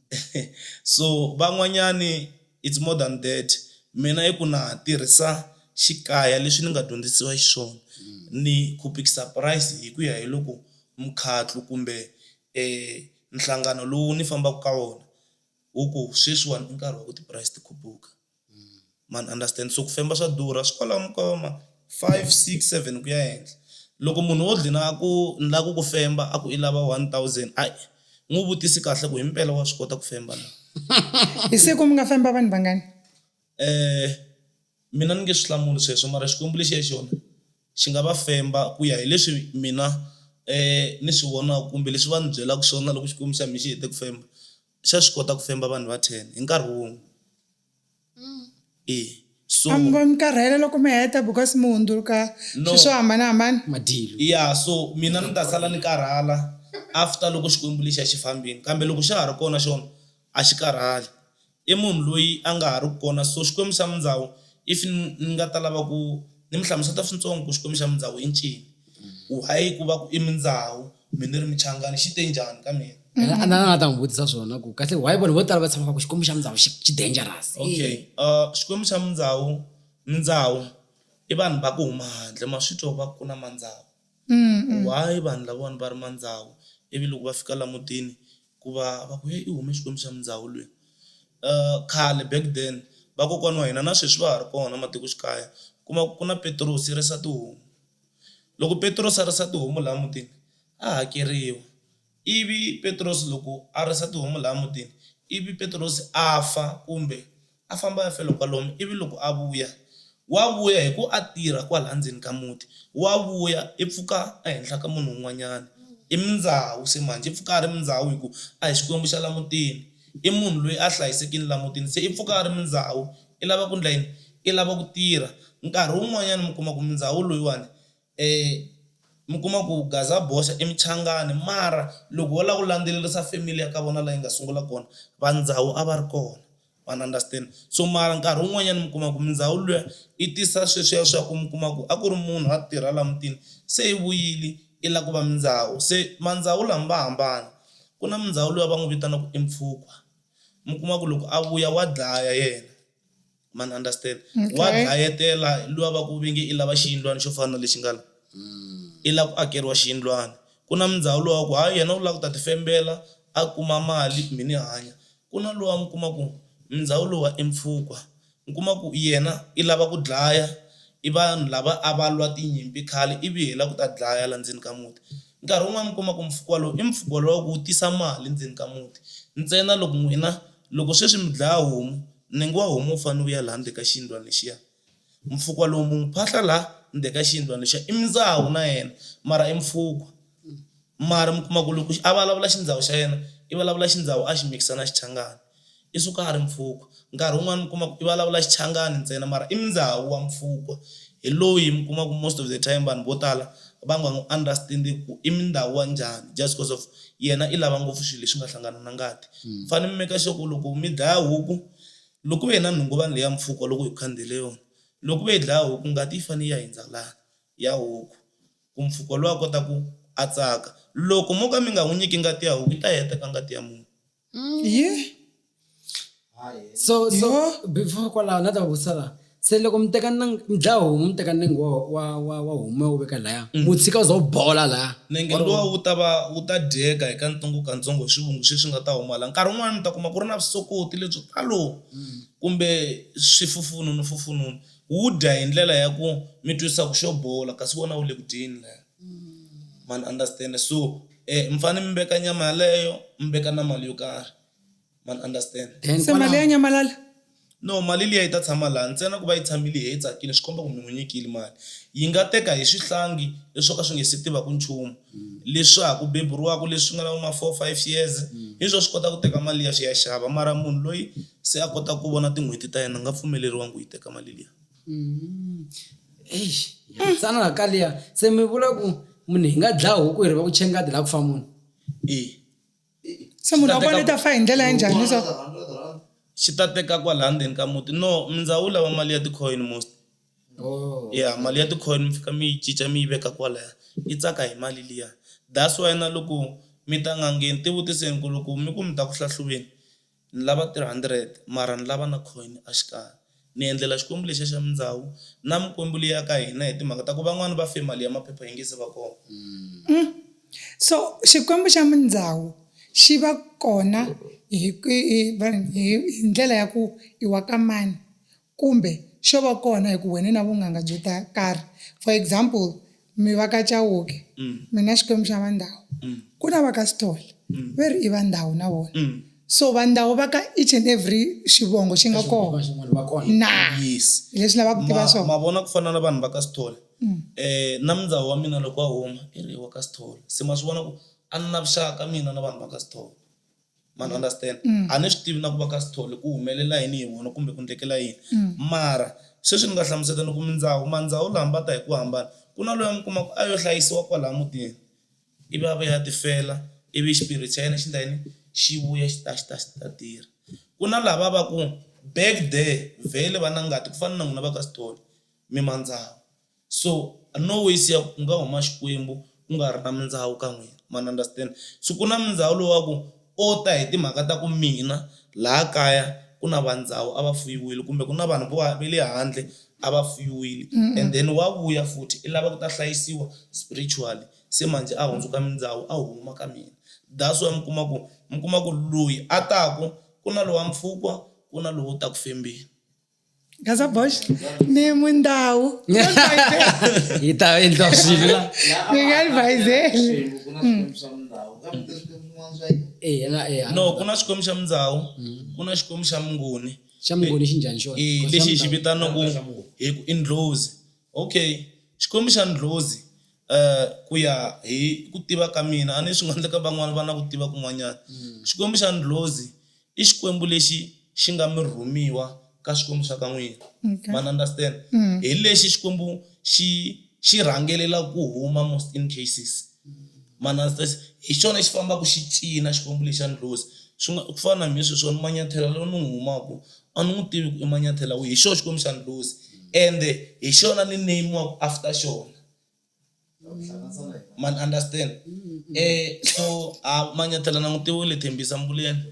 so van'wanyani it's more than that mina i ku na tirhisa xikaya leswi ni nga dyondzisiwa xiswona mm. ni khupikisa price hi ku ya hi loko mkhatlo kumbe eh nhlangano lowu ni fambaka ka wona wu ku sweswiwani i nkarhi wa ku ti-price ti khupuka ma ni understand. So ku famba swa durha swi kwalano ka ma five, six, seven ku ya henhla. Loko munhu wo dlina a ku ni lava ku ku femba a ku i lava one thousand a n'wi vutisi kahle ku himpela wa swi kota ku femba na. Hi siku mi nga famba vanhu vangani? mina ni nge swi hlamuli sweswo mara Xikwembu lexi ya xona xi nga va femba ku ya hileswi mina ni swi vonaka kumbe leswi va ni byelaka swona loko Xikwembu xa mina xi hete ku femba. xa swi kota ku femba vanhu va 10 hi nkarhi wun'we e so A mi voni mi karhele loko mi heta because mi hundzuluka No. swilo swo hambanahambana? madilo ya so mina ni ta sala ni karhala after loko xikwembu lexiya xi fambini kambe loko xa ha ri kona xona a xi karhali i munhu loyi a nga ha ri ku kona so xikwembu xa mindhawu if ni ni nga ta lava ku ni mi hlamuseta swintsongo ku xikwembu xa mindhawu i ncini why ku va ku i mindhawu Mina ni ri muchangani xi te njhani ka mina. Na na nga ta n'wi vutisa swona ku kahle why vanhu vo tala va tshemba swa ku Xikwembu xa Mundzawu xi xi dangerous. Okay Xikwembu xa Mundzawu, Mindzawu i vanhu va ku huma handle ma swi twa va ku na Mandzawu why vanhu lavawani va ri Mandzawu ivi loko va fika la mutini ku va va ku heyi i hume Xikwembu xa Mundzawu lweyi. Khale back then vakokwana wa hina na sweswi va ha ri kona matikoxikaya kuma ku ku na Petirose yi risa tihomu. Loko Petrosi a risa tihomu laha mutini, a hakeriwa. Ivi Petrosi loko a risa tihomu laha mutini, ivi Petrosi a fa kumbe a famba a ya fela kwalomu, ivi loko a vuya, wa vuya hi ku a tirha kwalaya ndzeni ka muti. Wa vuya i pfuka ehenhla ka munhu un'wanyana. I mindzhawu se manjhe, i pfuka a ri mindzhawu hi ku a hi Xikwembu xa laha mutini. I munhu loyi a hlayisekile laha mutini, se i pfuka a ri mindzhawu. I lava ku ndla yini? I lava ku tirha. Nkarhi wun'wanyana mi kuma ku mundzawu loyiwani mi kuma ku gaza boxa i muchangani mara loko wo lava ku landzelerisa family ya ka vona laha yi nga sungula kona va ndzawu a va ri kona ma ni understand. So mara nkarhi wun'wanyana mi kuma ku mundzawu luya i tisa sweswiya swa ku mi kuma ku a ku ri munhu a tirha laha mutini se i vuyile i lava ku va mundzawu se mandzawu lama va hambana ku na mundzawu luya va n'wi vitanaka i mpfhukwa. mi kuma ku loko a vuya wa dlaya yena ma ni understand wa Okay. dlayetela luya va ku vinge i lava xiyindlwana xo fana na lexi nga la i lava ku akeriwa xiyindlwana ku na mindhawu lowa ku hayi yena u lava ku ta tifembela a kuma mali mi ni hanya ku na lowa mi kuma ku mindhawu lowa i mpfhukwa U kuma ku yena i lava ku dlaya, i vanhu lava a va lwa tinyimpi khale ivi hi lava ku ta dlaya laha ndzeni ka muti. Nkarhi wun'wana mi kuma ku mpfhuka wolowo i mpfhuka wolowo wa ku wu tisa mali ndzeni ka muti. Ntsena loko n'wina loko sweswi mi dlaya homu, nenge wa homu wu fanele wu ya laha ndzeni ka xiyindlwana lexiya. Mpfhuka lowu mi n'wi phahla laha ndzeni ka xiyindlwana lexiya i mindzawu na yena mara i mpfhuka. mara mi kuma ku loko a vulavula xindzhawu xa yena i vulavula xindzhawu a xi mikisa na xichangani i suka a ri mpfhukwa nkarhi wun'wani mi kuma ku i vulavula xichangani ntsena mara i mundzawu wa mpfhukwa hi loyi mi kuma ku most of the time vanhu vo tala va nga n'wu understand-i ku i mundhawu wa njhani just coz of yena i lava ngopfu swi leswi nga hlangana na ngati mi fane mi make sure ku loko mi dlaya huku loko ku ve na nhunguvani leya mpfhukwa loko hi ku khandziyele yona loko ku ve hi dlaya huku ngati yi fane yi ya hindza lani ya huku, ku mpfuko lowa kota ku a tsaka. Loko mo ka mi nga n'wi nyiki ngati ya huku, yi ta heta ka ngati ya munhu. Yeh! So, so, before kwalaho, na ta va vutisa laha. Se loko mi teka nang-, mi dlaya homu, mi teka nenge wa, wa, wa, wa homu mi ya wu veka laya, wu tshika wu za wu bola laya. Nenge luwa wu ta va wu ta dyeka hi kantsongo-kantsongo hi swivungu sweswi nga ta huma laya. Nkarhi wun'wana mi ta kuma ku ri na vusokoti lebyo talo kumbe swifufununu-fufununu. Wu dya hi ndlela ya ku mi twisisa ku xo bola kasi wona wu le ku dyeni laya ma ni understand so mi fane mi veka nyama yaleyo mi veka na mali yo karhi ma ni understand then se mali ya nyamalala no mali liya yi ta tshama laha ntsena ku va yi tshamile yi he tsakile swi komba ku mi n'wi nyikile mali yi nga teka hi swihlangi leswo ka swi nga se tivaku nchumu. leswaku beburi wakwe leswi nga na vo ma four five years hi swo swi kota ku teka mali liya swi ya xava mara munhu loyi se a kotaka ku vona tin'hweti ta yena a nga pfumeleriwangi ku yi teka mali liya eish ya tsana la ka liya se mi vula ku munhu hi nga dlaya huku hi ri va ku chengadi la ku fa munhu e. se munhu wa kona i ta fa hi ndlela ya njhani so xi ta teka kwala ndzeni ka muti no mindzawu lava mali ya ticoin most oh. ya mali ya ticoin mi fika mi yi cinca mi yi veka kwalaya yi tsaka hi mali liya that's why na loko mi ta n'angeni ti vutiseni ku loko mi ku mi ta ku hlahluveni Ni lava 300 mara ni lava na coin a xikarhi. Ni endlela Xikwembu lexiya xa mindzawu na mikwembu liya ya ka hina hi timhaka ta ku van'wana va fe mali ya maphepha yi nge se va kona. Umm so Xikwembu xa mindzawu xi va kona hi ndlela ya ku i wa ka mani? Kumbe, xo va kona hi ku wena i na vunganga byo ta karhi. For example, mi va ka Chauke, mi na Xikwembu xa va Ndau. Ku na va ka Sithole, ve ri i va Ndau na vona. So va Ndau va ka each and every xivongo xi nga kona. Va kona. Na. Yes. Hi leswi ni lavaka ku tiva swona. Ma, ma vona ku fana na vanhu va ka Sithole, na mundzawu wa mina loko a huma, i ri i wa ka Sithole. Se ma swi vona ku a ni na vuxaka mina na vanhu va ka Sithole. ma ni understand a ni swi tivi na ku va ka Sithole ku humelela yini hi vona kumbe ku endlekela yini mara sweswi ni nga hlamuseta ni ku mindzawu mandzawu laha va ta hi ku hambana ku na loyi a mi kuma ku a yo hlayisiwa kwalaya mutini ivi a vuya a ti fela ivi xipiriti xa yena xi endla yini xi vuya xi ta xi ta xi ta tirha ku na lava va ku back there vhele va na ngati ku fana na n'wina va ka Sithole mi mandzawu. so no ways ya ku nga huma Xikwembu ku nga ri na mindhawu ka n'wina ma ni understand, so ku na mindhawu lowu wa ku o ta hi timhaka ta ku mina laha kaya ku na va ndhawu a va fuyiwile kumbe ku na vanhu vo va le handle a va fuyiwile and then wa vuya futhi i lava ku ta hlayisiwa spiritually se manjhe a hundzuka mindhawu a huma ka mina that's why mi kuma ku mi kuma ku loyi a taku ku na lowa mpfhukwa ku na lowo ta ku fembeni. Casa Bosch, ne mundau. e tá, ele tá horrível lá. Ninguém vai ver. No, kuna xikwembu xa mindzhawu ku na xikwembu xa mungoni xa mungoni xi njhani xona Eh, Because lexi hi xa xi mundau. vitanaku hi ku i ndlozi okay xikwembu xa ndlozi um ku ya hi ku tiva ka mina a ni swi nga endleka van'wani va na ku tiva kun'wanyana xikwembu xa ndlozi i Xikwembu lexi xi nga mi rhumiwa ka Swikwembu swa ka n'wina. Okay. Ma ni understand? Hi lexi Xikwembu xi xi rhangelela ku huma most in cases. Ma ni understand? Hi xona xi fambaka xi cina Xikwembu lexa ndlhozi. Swi nga ku fana na mina sweswi wani Manyathela lowu ni n'wi humaka a ni n'wi tivi ku i Manyathela wihi, hi xona Xikwembu xa ndlhozi ende hi xona ni name-iwaka after xona. man understand eh so a manyathela langutiwa u le thembisa mbuleni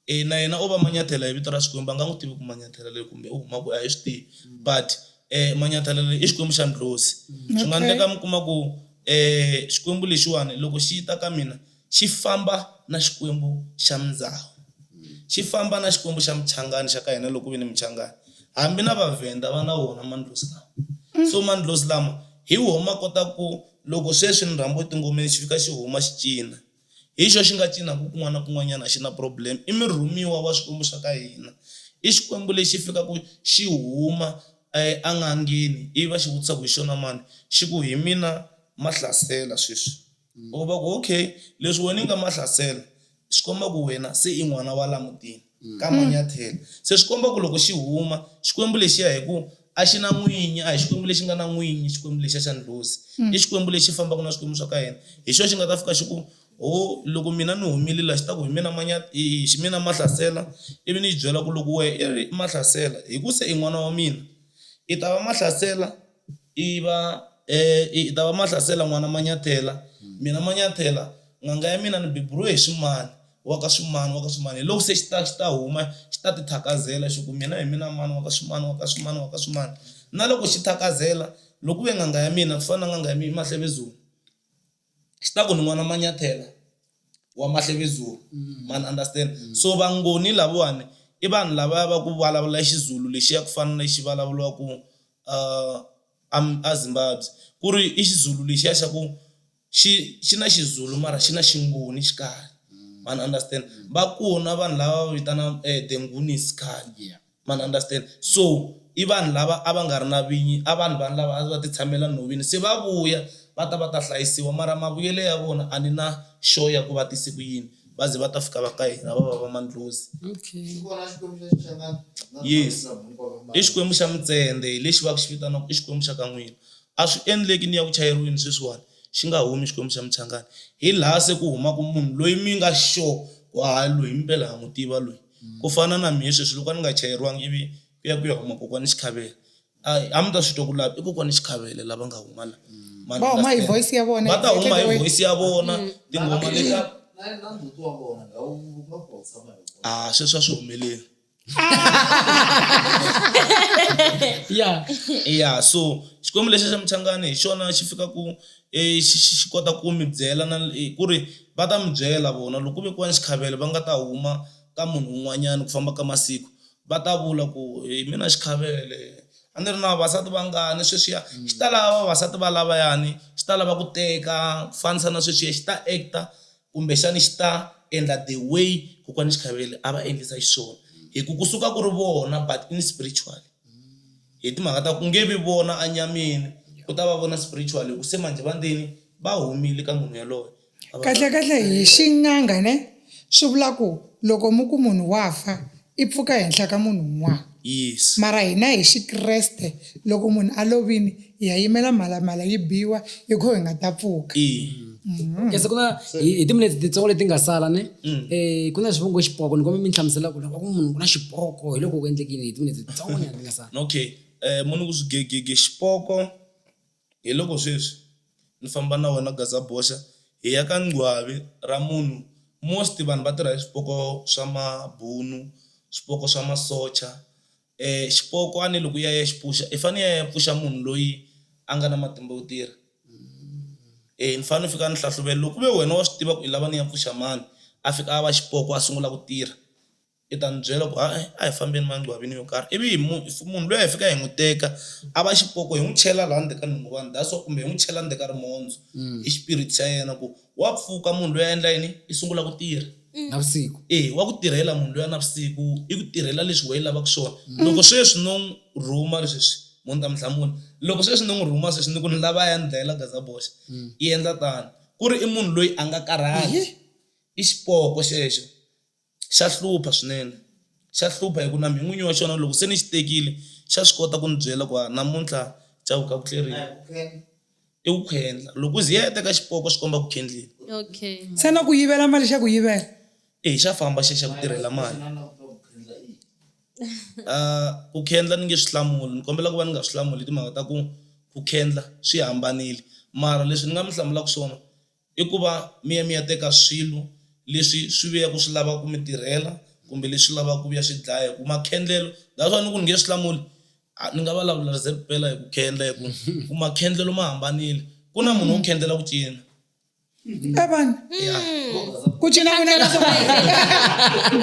e na yena o va manyathela hi vito ra xikwembu a nga n'wi tivi ku manyathela leyi kumbe u huma ku a hi swi tivi but um manyathela leyi i xikwembu xa ndlhozi swi nga Okay. endleka mi kuma ku um xikwembu lexiwani loko xi ta ka mina Xi famba na Xikwembu xa Mndzahu. Xi famba na Xikwembu xa Muchangani xa ka hina loko ku ve ni Muchangani hambi na Vavhenda va na wona mandlozi lawa. So mandlozi lama hi woho ma kota ku loko sweswi ni rhambiwe tingomeni xi fika xi huma xi cina. Hi xoho xi nga cinaka kun'wana na kun'wanyana a xi na problem. I murhumiwa wa Swikwembu swa ka hina. I Xikwembu lexi fikaka xi huma en'angeni ivi va xi vutisa ku hi xona mani, xi ku hi mina Mahlasela sweswi. U va ku, Okay, leswi wena u nga Mahlasela swi komba ku wena se i n'wana wa laha mutini ka Manyathela. Se swi komba ku loko xi huma Xikwembu lexiya hi ku a xi na n'winyi, a hi Xikwembu lexi nga na n'winyi Xikwembu lexiya xa ndlhozi. I Xikwembu lexi fambaka na swikwembu swa ka hina. Hi xona xi nga ta fika xi ku, Ho, loko mina ni humile laha, xi ta ku, Hi mina hi mina Mahlasela, ivi ni xi byela ku loko wena i ri Mahlasela hi ku se i n'wana wa mina, i ta va Mahlasela. I va, i ta va Mahlasela n'wana Manyathela, mina Manyathela, n'anga ya mina ni beburiwe hi Swimani, wa ka Swimani, wa ka Swimani. Hiloko se xi ta, xi ta huma xi ta tithakazela xi ku, Mina hi mina mani wa ka Swimani, wa ka Swimani, wa ka Swimani. Na loko xi thakazela, loko ku ve n'anga ya mina ku fana na n'anga ya Mahlevezulu. xi ta ku ni n'wana manyathela wa mahlevezulu ma ni understand so vangoni lavawani i vanhu lava va ku vulavula xizulu lexiya ku fana na lexi vulavuriwaka um a a zimbabwe ku ri i xizulu lexiya xa ku xi xi na xizulu mara xi na xingoni xikarhi ma ni understand va kona vanhu lava va vitanaka the nguni is khale. ma ni understand so i vanhu lava a va nga ri na vinyi a vanhu vanhu lava a va ti tshamela nhoveni se va vuya va ta va ta hlayisiwa mara mavuyelo ya vona a ni na sure ya ku va tise ku yini va ze va ta fika va ka hina va va va mandlhozi yes i xikwembu xa mutsende hi lexi va ku xi vitanaku i xikwembu xa ka n'wina a swi endleki ni ya ku chayeriweni sweswiwani xi nga humi xikwembu xa muchangani hi laha se ku humaku munhu loyi mi nga sure ku hayi loyi impela ha n'wi tiva loyi. Ku fana na mehe sweswi loko a ni nga chayeriwanga ivi ku ya ku ya huma kokwani Xikhave a a mi ta swi twa ku lava i kokwani Xikhave lava nga huma la ma va huma hi understand? voice ya vona va ta huma hi voice ya vona tinghoma leta a sweswi a swi humeleli ya ya so xikwembu lexi xa muchangani hi xona xi fikaku xi xi xi kota ku mi byela na hi ku ri va ta mi byela vona loko ku ve ku va ni xikhavelo va nga ta huma ka munhu un'wanyana ku famba ka masiku va ta vula ku hi mina xikhavele a ni ri na vavasati vangani sweswiya xi ta lava vavasati va lavayani xi ta lava ku teka ku fanisa na sweswiya xi ta act-a. kumbexani xi ta endla the way kokwani Chikhavele a va endlisa xiswona hi ku kusuka ku ri vona but in spiritual hi timhaka ta ku nge vi vona a nyameni ku ta va vona spiritual hi ku se manjhe va ndini va humile ka munhu yaloye kahle kahle hi xin'anga ne swi vula ku loko mi ku munhu wa fa I pfuka henhla ka munhu un'wana. Yes. Mara hina hi xikreste loko munhu a lovini hi ya yimela mhalamhala yi biwa hi kho hi nga ta pfuka. Okay se ku na hi timinetse titsongo leti nga sala ne eh ku na swivongo xipoko ni kombe mi ni hlamusela ku loko ku munhu ku na xipoko hi loko ku endlekini hi timinetse titsongo nyana ti nga sala. Okay eh munhu ku swigegege xipoko. Hi loko sweswi ni famba na wena Gazaboxa hi ya ka ngcwavi ra munhu most vanhu va tirha hi swipoko swa mabunu, swipoko swa masocha xipoko a ni loko u ya ya xi pfuxa i fane i ya ya pfuxa munhu loyi a nga na matimba yo tirha eya ni fanele ni fika ni hlahluvela loko ku ve wena wa swi tiva ku i lava ni ya pfuxa mani a fika a va xipoko a sungula ku tirha. I ta n'wi byela ku hayi a hi fambeni mangcwabini yo karhi ivi hi munhu if munhu luya hi fika hi n'wi teka a va xipoko hi n'wi chela laha ndzeni ka nhonga vanhu that's why kumbe hi n'wi chela ndzeni ka rimondzo i xipiriti xa yena ku wa pfuka munhu loyi a endla yini i sungula ku tirha navusiku e wa ku tirhela munhu loyi navusiku i ku tirhela leswi wehe lavaka swona loko sweswi no n'wi rhuma leswi munhu ta mi hlamula loko sweswi no n'wi rhuma sweswi ni ku ni lava ya ni dlayela gazaboxa i endla tano ku ri i munhu loyi a nga karhali i xipoko xexo Xa hlupha swinene. Xa hlupha hikuva na mina n'winyi wa xona loko se ni xi tekile, xa swi kota ku ndzi byela ku hayi namuntlha cavuka ku tleriwa. I ku khendla. Loko u ze u ya u ya teka xipoko swi komba ku khendliwa. Okay. Se na ku yivela mali xa ku yivela. E, xa famba xi ya xa ku tirhela mali. Ah, ku khendla ni nge swi hlamuli, ni kombela ku va ni nga swi hlamuli hi timhaka ta ku ku khendla swi hambanile. Mara leswi ni nga mi hlamulaka swona, I ku va mi ya mi ya teka swilo leswi swi vuyaka swi lava ku mi tirhela kumbe leswi lavaka ku vuya swi dlaya hi ku makhendlelo that's why ni ku ni nge swi hlamuli a ni nga va lavula ze ku pela hi ku khendla hi ku ku makhendlelo ma hambanile ku na munhu wo khendlela ku cina a vana ya ku cina ku na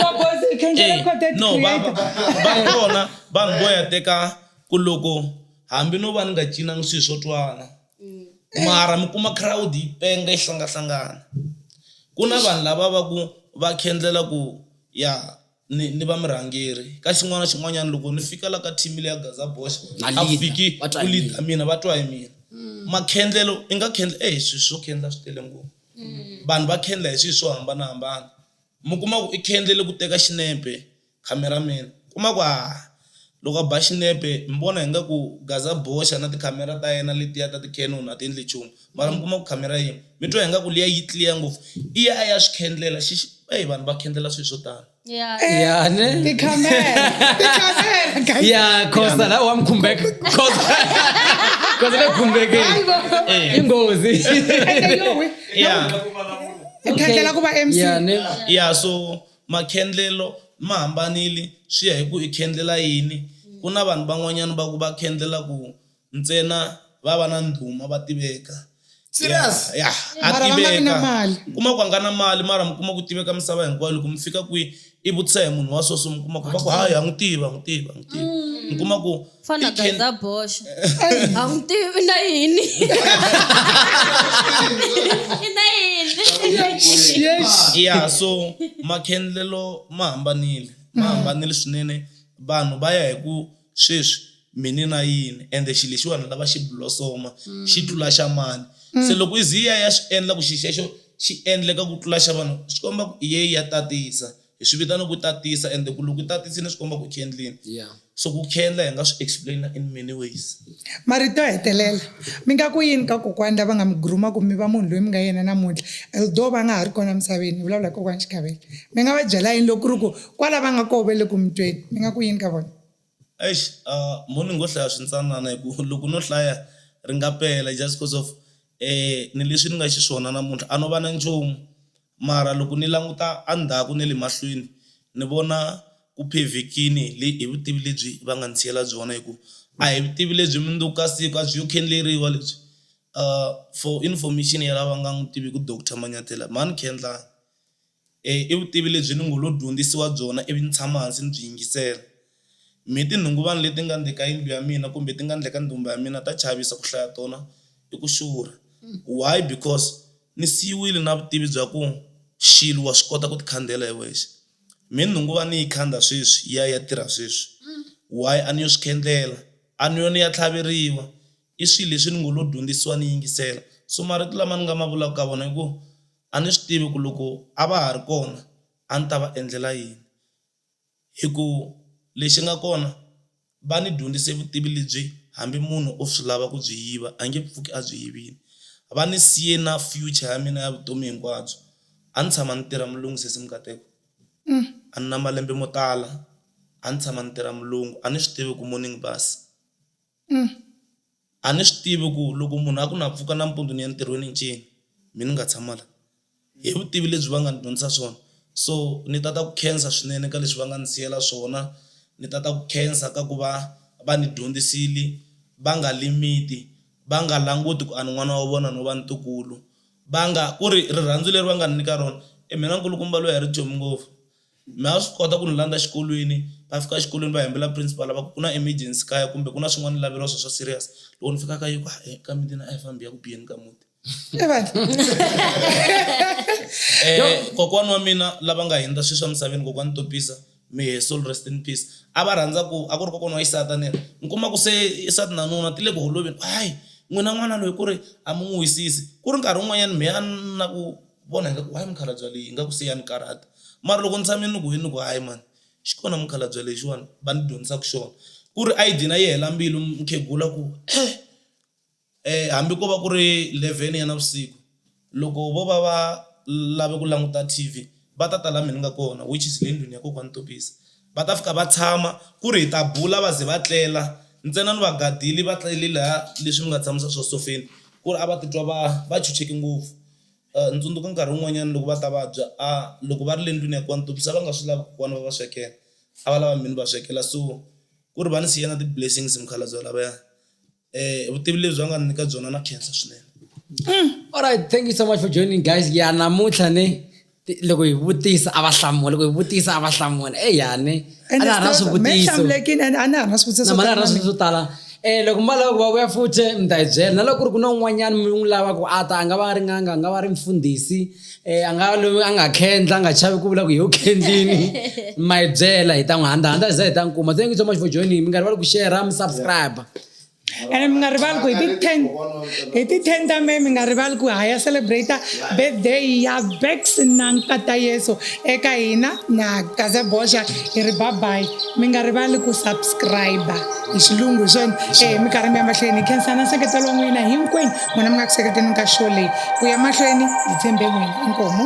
babosi khendlela Eh, content no va va- creator va kona vanhu vo ya teka ku loko hambi no va ni nga cinangi swilo swo twana mara mi kuma crowd yi penga yi hlangahlangana ku na vanhu lava va ku va khendlela ku ya ni ni va murhangeri ka xin'wana na xin'wanyana loko ni fika la ka team leya gaza box Na a leader, fiki va twa ku hi leader mina va twa hi mina makhendlelo i nga khendla e hi swilo swo khendla swi tele ngopfu vanhu va khendla hi swilo swo hambanahambana mi kuma ku i khendlele ku teka xinepe Camera man, u kuma ku haa loko a ba xinepe mi vona hi nga ku Gaza boxa na ti camera ta yena letiya ta ti Canon a ti endli nchumu mara mi kuma ku camera yin'we mi twa hi nga ku liya yi clear ngopfu i ya a ya swi khendlela xi eyi vanhu va khendlela swilo swo tani. Ya. Ya ne. Tikhamera, tikhamera, guys. Ya Khosa la wa mi khumbeka. Khosa. Khosa le khumbeke. Hayibo. I nghozi. Ende yowe. Ya. Ukhandlela ku va MC. Ya ne. Ya so Makhendlelo ma hambanile swi ya hi ku i khendlela yini. Ku na vanhu van'wanyana va ku va khendlela ku ntsena va va na ndhuma va tiveka. Serious? Ya, ya, a Mara va nga vi na tiveka. mali. Mi kuma ku a nga na mali mara mi kuma ku tiveka misava hinkwayo. Loko mi fika kwihi i vutisa hi munhu wa so so mi kuma ku va ku hayi ha n'wi tiva, ha n'wi tiva, ha n'wi tiva. Mi kuma ku. fana It can- gaza boxa a n'wi tivi i na yini i na yini Yes. yeah so makhendlelo ma hambanile ma hambanile swinene vanhu va ya hi ku sweswi mini na yini ende xilo lexiwani lava xi blosoma xi tlula xa mani se loko iziya ya swi endla ku xilo xexo xi endleka ku tlula xa vanhu swi komba ku iye ya tatisa Hi swi vitana ku tatisa ende ku loko u tatisini swi komba ku u khendlini. Yeah. So ku khendla hi nga swi explain-a in many ways. Marito yo hetelela, mi nga ku yini ka kokwani lava nga mi groom-a ku mi va munhu loyi mi nga yena namuntlha although va nga ha ri kona emisaveni? Ni vulavula hi kokwani Xikavele. Mi nga va byela yini loko ku ri ku kwala va nga koho va le ku mi tweni? Mi nga ku yini ka vona? Eish mo ni ngo hlaya swintsanana hi ku loko no hlaya ri nga pela just coz of ni leswi ni nga xiswona namuntlha a no va na nchumu. Mara loko ni languta endzhaku ni le mahlweni, ni vona ku phevhekile hi vutivi lebyi va nga ndzi siyela byona hi ku a hi vutivi lebyi mundzuku ka siku a byi yo khendleriwa lebyi. For information ya lava nga n'wi tiviki doctor Manyathela, mhani Khendlani i vutivi lebyi ni ngo lo dyondzisiwa byona ivi ni tshama hansi ni byi yingisela. Mi tinhunguvani leti nga ndle ka yindlu ya mina kumbe ti nga ndle ka ndumba ya mina ta chavisa, ku hlaya tona i ku xurha. Why? Because ni siyiwile na vutivi bya ku xilo wa swi kota ku tikhandela hi wexe. Mi nhunguva ni yi khanda sweswi ya ya tirha sweswi. Why? A ni yo swi khendlela, a ni yo ni ya tlhaveriwa. I swilo leswi ni ngo lo dyondzisiwa ni yingisela. So marito lama ni nga ma vulaka ka vona i ku a ni swi tivi ku loko a va ha ri kona a ni ta va endlela yini. Hi ku lexi nga kona, va ni dyondzise vutivi lebyi hambi munhu o swi lava ku byi yiva a nge pfuki a byi yivile. Va ni siye na future ya mina ya vutomi hinkwabyo. A ni tshama ni tirha mulungu sesi Mnkateko. A ni na malembe mo tala a ni tshama ni tirha mulungu a ni swi tivi ku morning bus. a ni swi tivi ku loko munhu a ku na pfuka nampundzu ni ya ntirhweni i ncini mina ni nga tshama la, hi vutivi lebyi va nga ni dyondzisa swona so ni tata ku khensa swinene ka leswi va nga ni siyela swona, ni tata ku khensa ka ku va va ni dyondzisile va nga limit va nga languti ku a ni n'wana wa vona no va ntukulu va nga ku ri rirhandzu leri va nga ni nyika rona i mina nkulukumba loyi a ri dyomi ngopfu. Mi nga swi kota ku ni landza xikolweni va fika exikolweni va hembela principal lava ku ku na emergency kaya kumbe ku na swin'wana ni laveriwa swona swa serious loko ni fika ka yiko e ka miti na a hi fambi ya ku biyeni ka muti um kokwana wa mina lava nga hundza sweswi emisaveni kokwana topisa may her soul rest in peace a va rhandza ku a ku ri kokwana wa xisati a ni ri mi kuma ku se nsati na nuna ti le ku holoveni hayi n'wina n'wana loyi ku ri a mi n'wi wisisi ku ri nkarhi wun'wanyani mehe a ni na ku vona ingaku why mukhalabye yaloye ingaku se ya ni karhata mara loko ni tshame ni ku yini ni ku hayi mhani xi kona mukhalabye lexiwani va ni dyondzisaka xona ku ri a yi dlina yi hela mbilu mukhegula ku hambi ko va ku ri eleven ya navusiku loko vo va va lave ku languta T_V va ta ta laha mehe ni nga kona which is le ndlwini ya kokwani Tobisa va ta fika va tshama ku ri hi ta bula va ze va tlela ntsena ni va gadile va tlele lahaya leswi ni nga tshamisa swa sofeni ku ri a va titwa va va chucheke ngopfu. Ndzi tsundzuka nkarhi wun'wanyana loko va ta vabya a loko va ri le ndlwini ya kokwana Tobisa va nga swi lavi kokwana va va swekela a va lava mina ni va swekela so ku ri va ni siya na ti blessings mukhalabye lavaya vutivi lebyi va nga ni nyika byona na khensa swinene. Alright thank you so much for joining guys ya namuntlha ne. loko hi vutisa a va hlamula loko hi vutisa a va hlamula eya ni a na ha na swivutiso a na ha na swivutiso na ha na swivutiso swo tala um loko mi va lava ku va vuya futhi mi ta hi byela na loko ku ri ku na un'wanyana mi n'wi lava ku a ta a nga va a ri n'anga a nga va ri mfundhisi um a nga loyi a nga khendla a nga chavi ku vula ku hi yo khendlini ma hi byela hi ta n'wi handahanda za hi ta n'wi kuma thank you so much for joining mi nga rivali ku share mi subscribe ene mi nga rivali ku hi ti ten hi ti ten ta me mi nga rivali ku ha ya celebrate birthday ya vex na nkata yesu eka hina na gaze boxa hi ri babayi mi nga rivali ku subscribe hi xilungu hi swona e mi karhi mi ya mahlweni hi khensana nseketelo wa n'wina hinkwenu n'wina mi nga ku seketeni ka show leyi ku ya mahlweni hi tshembe n'wina inkomu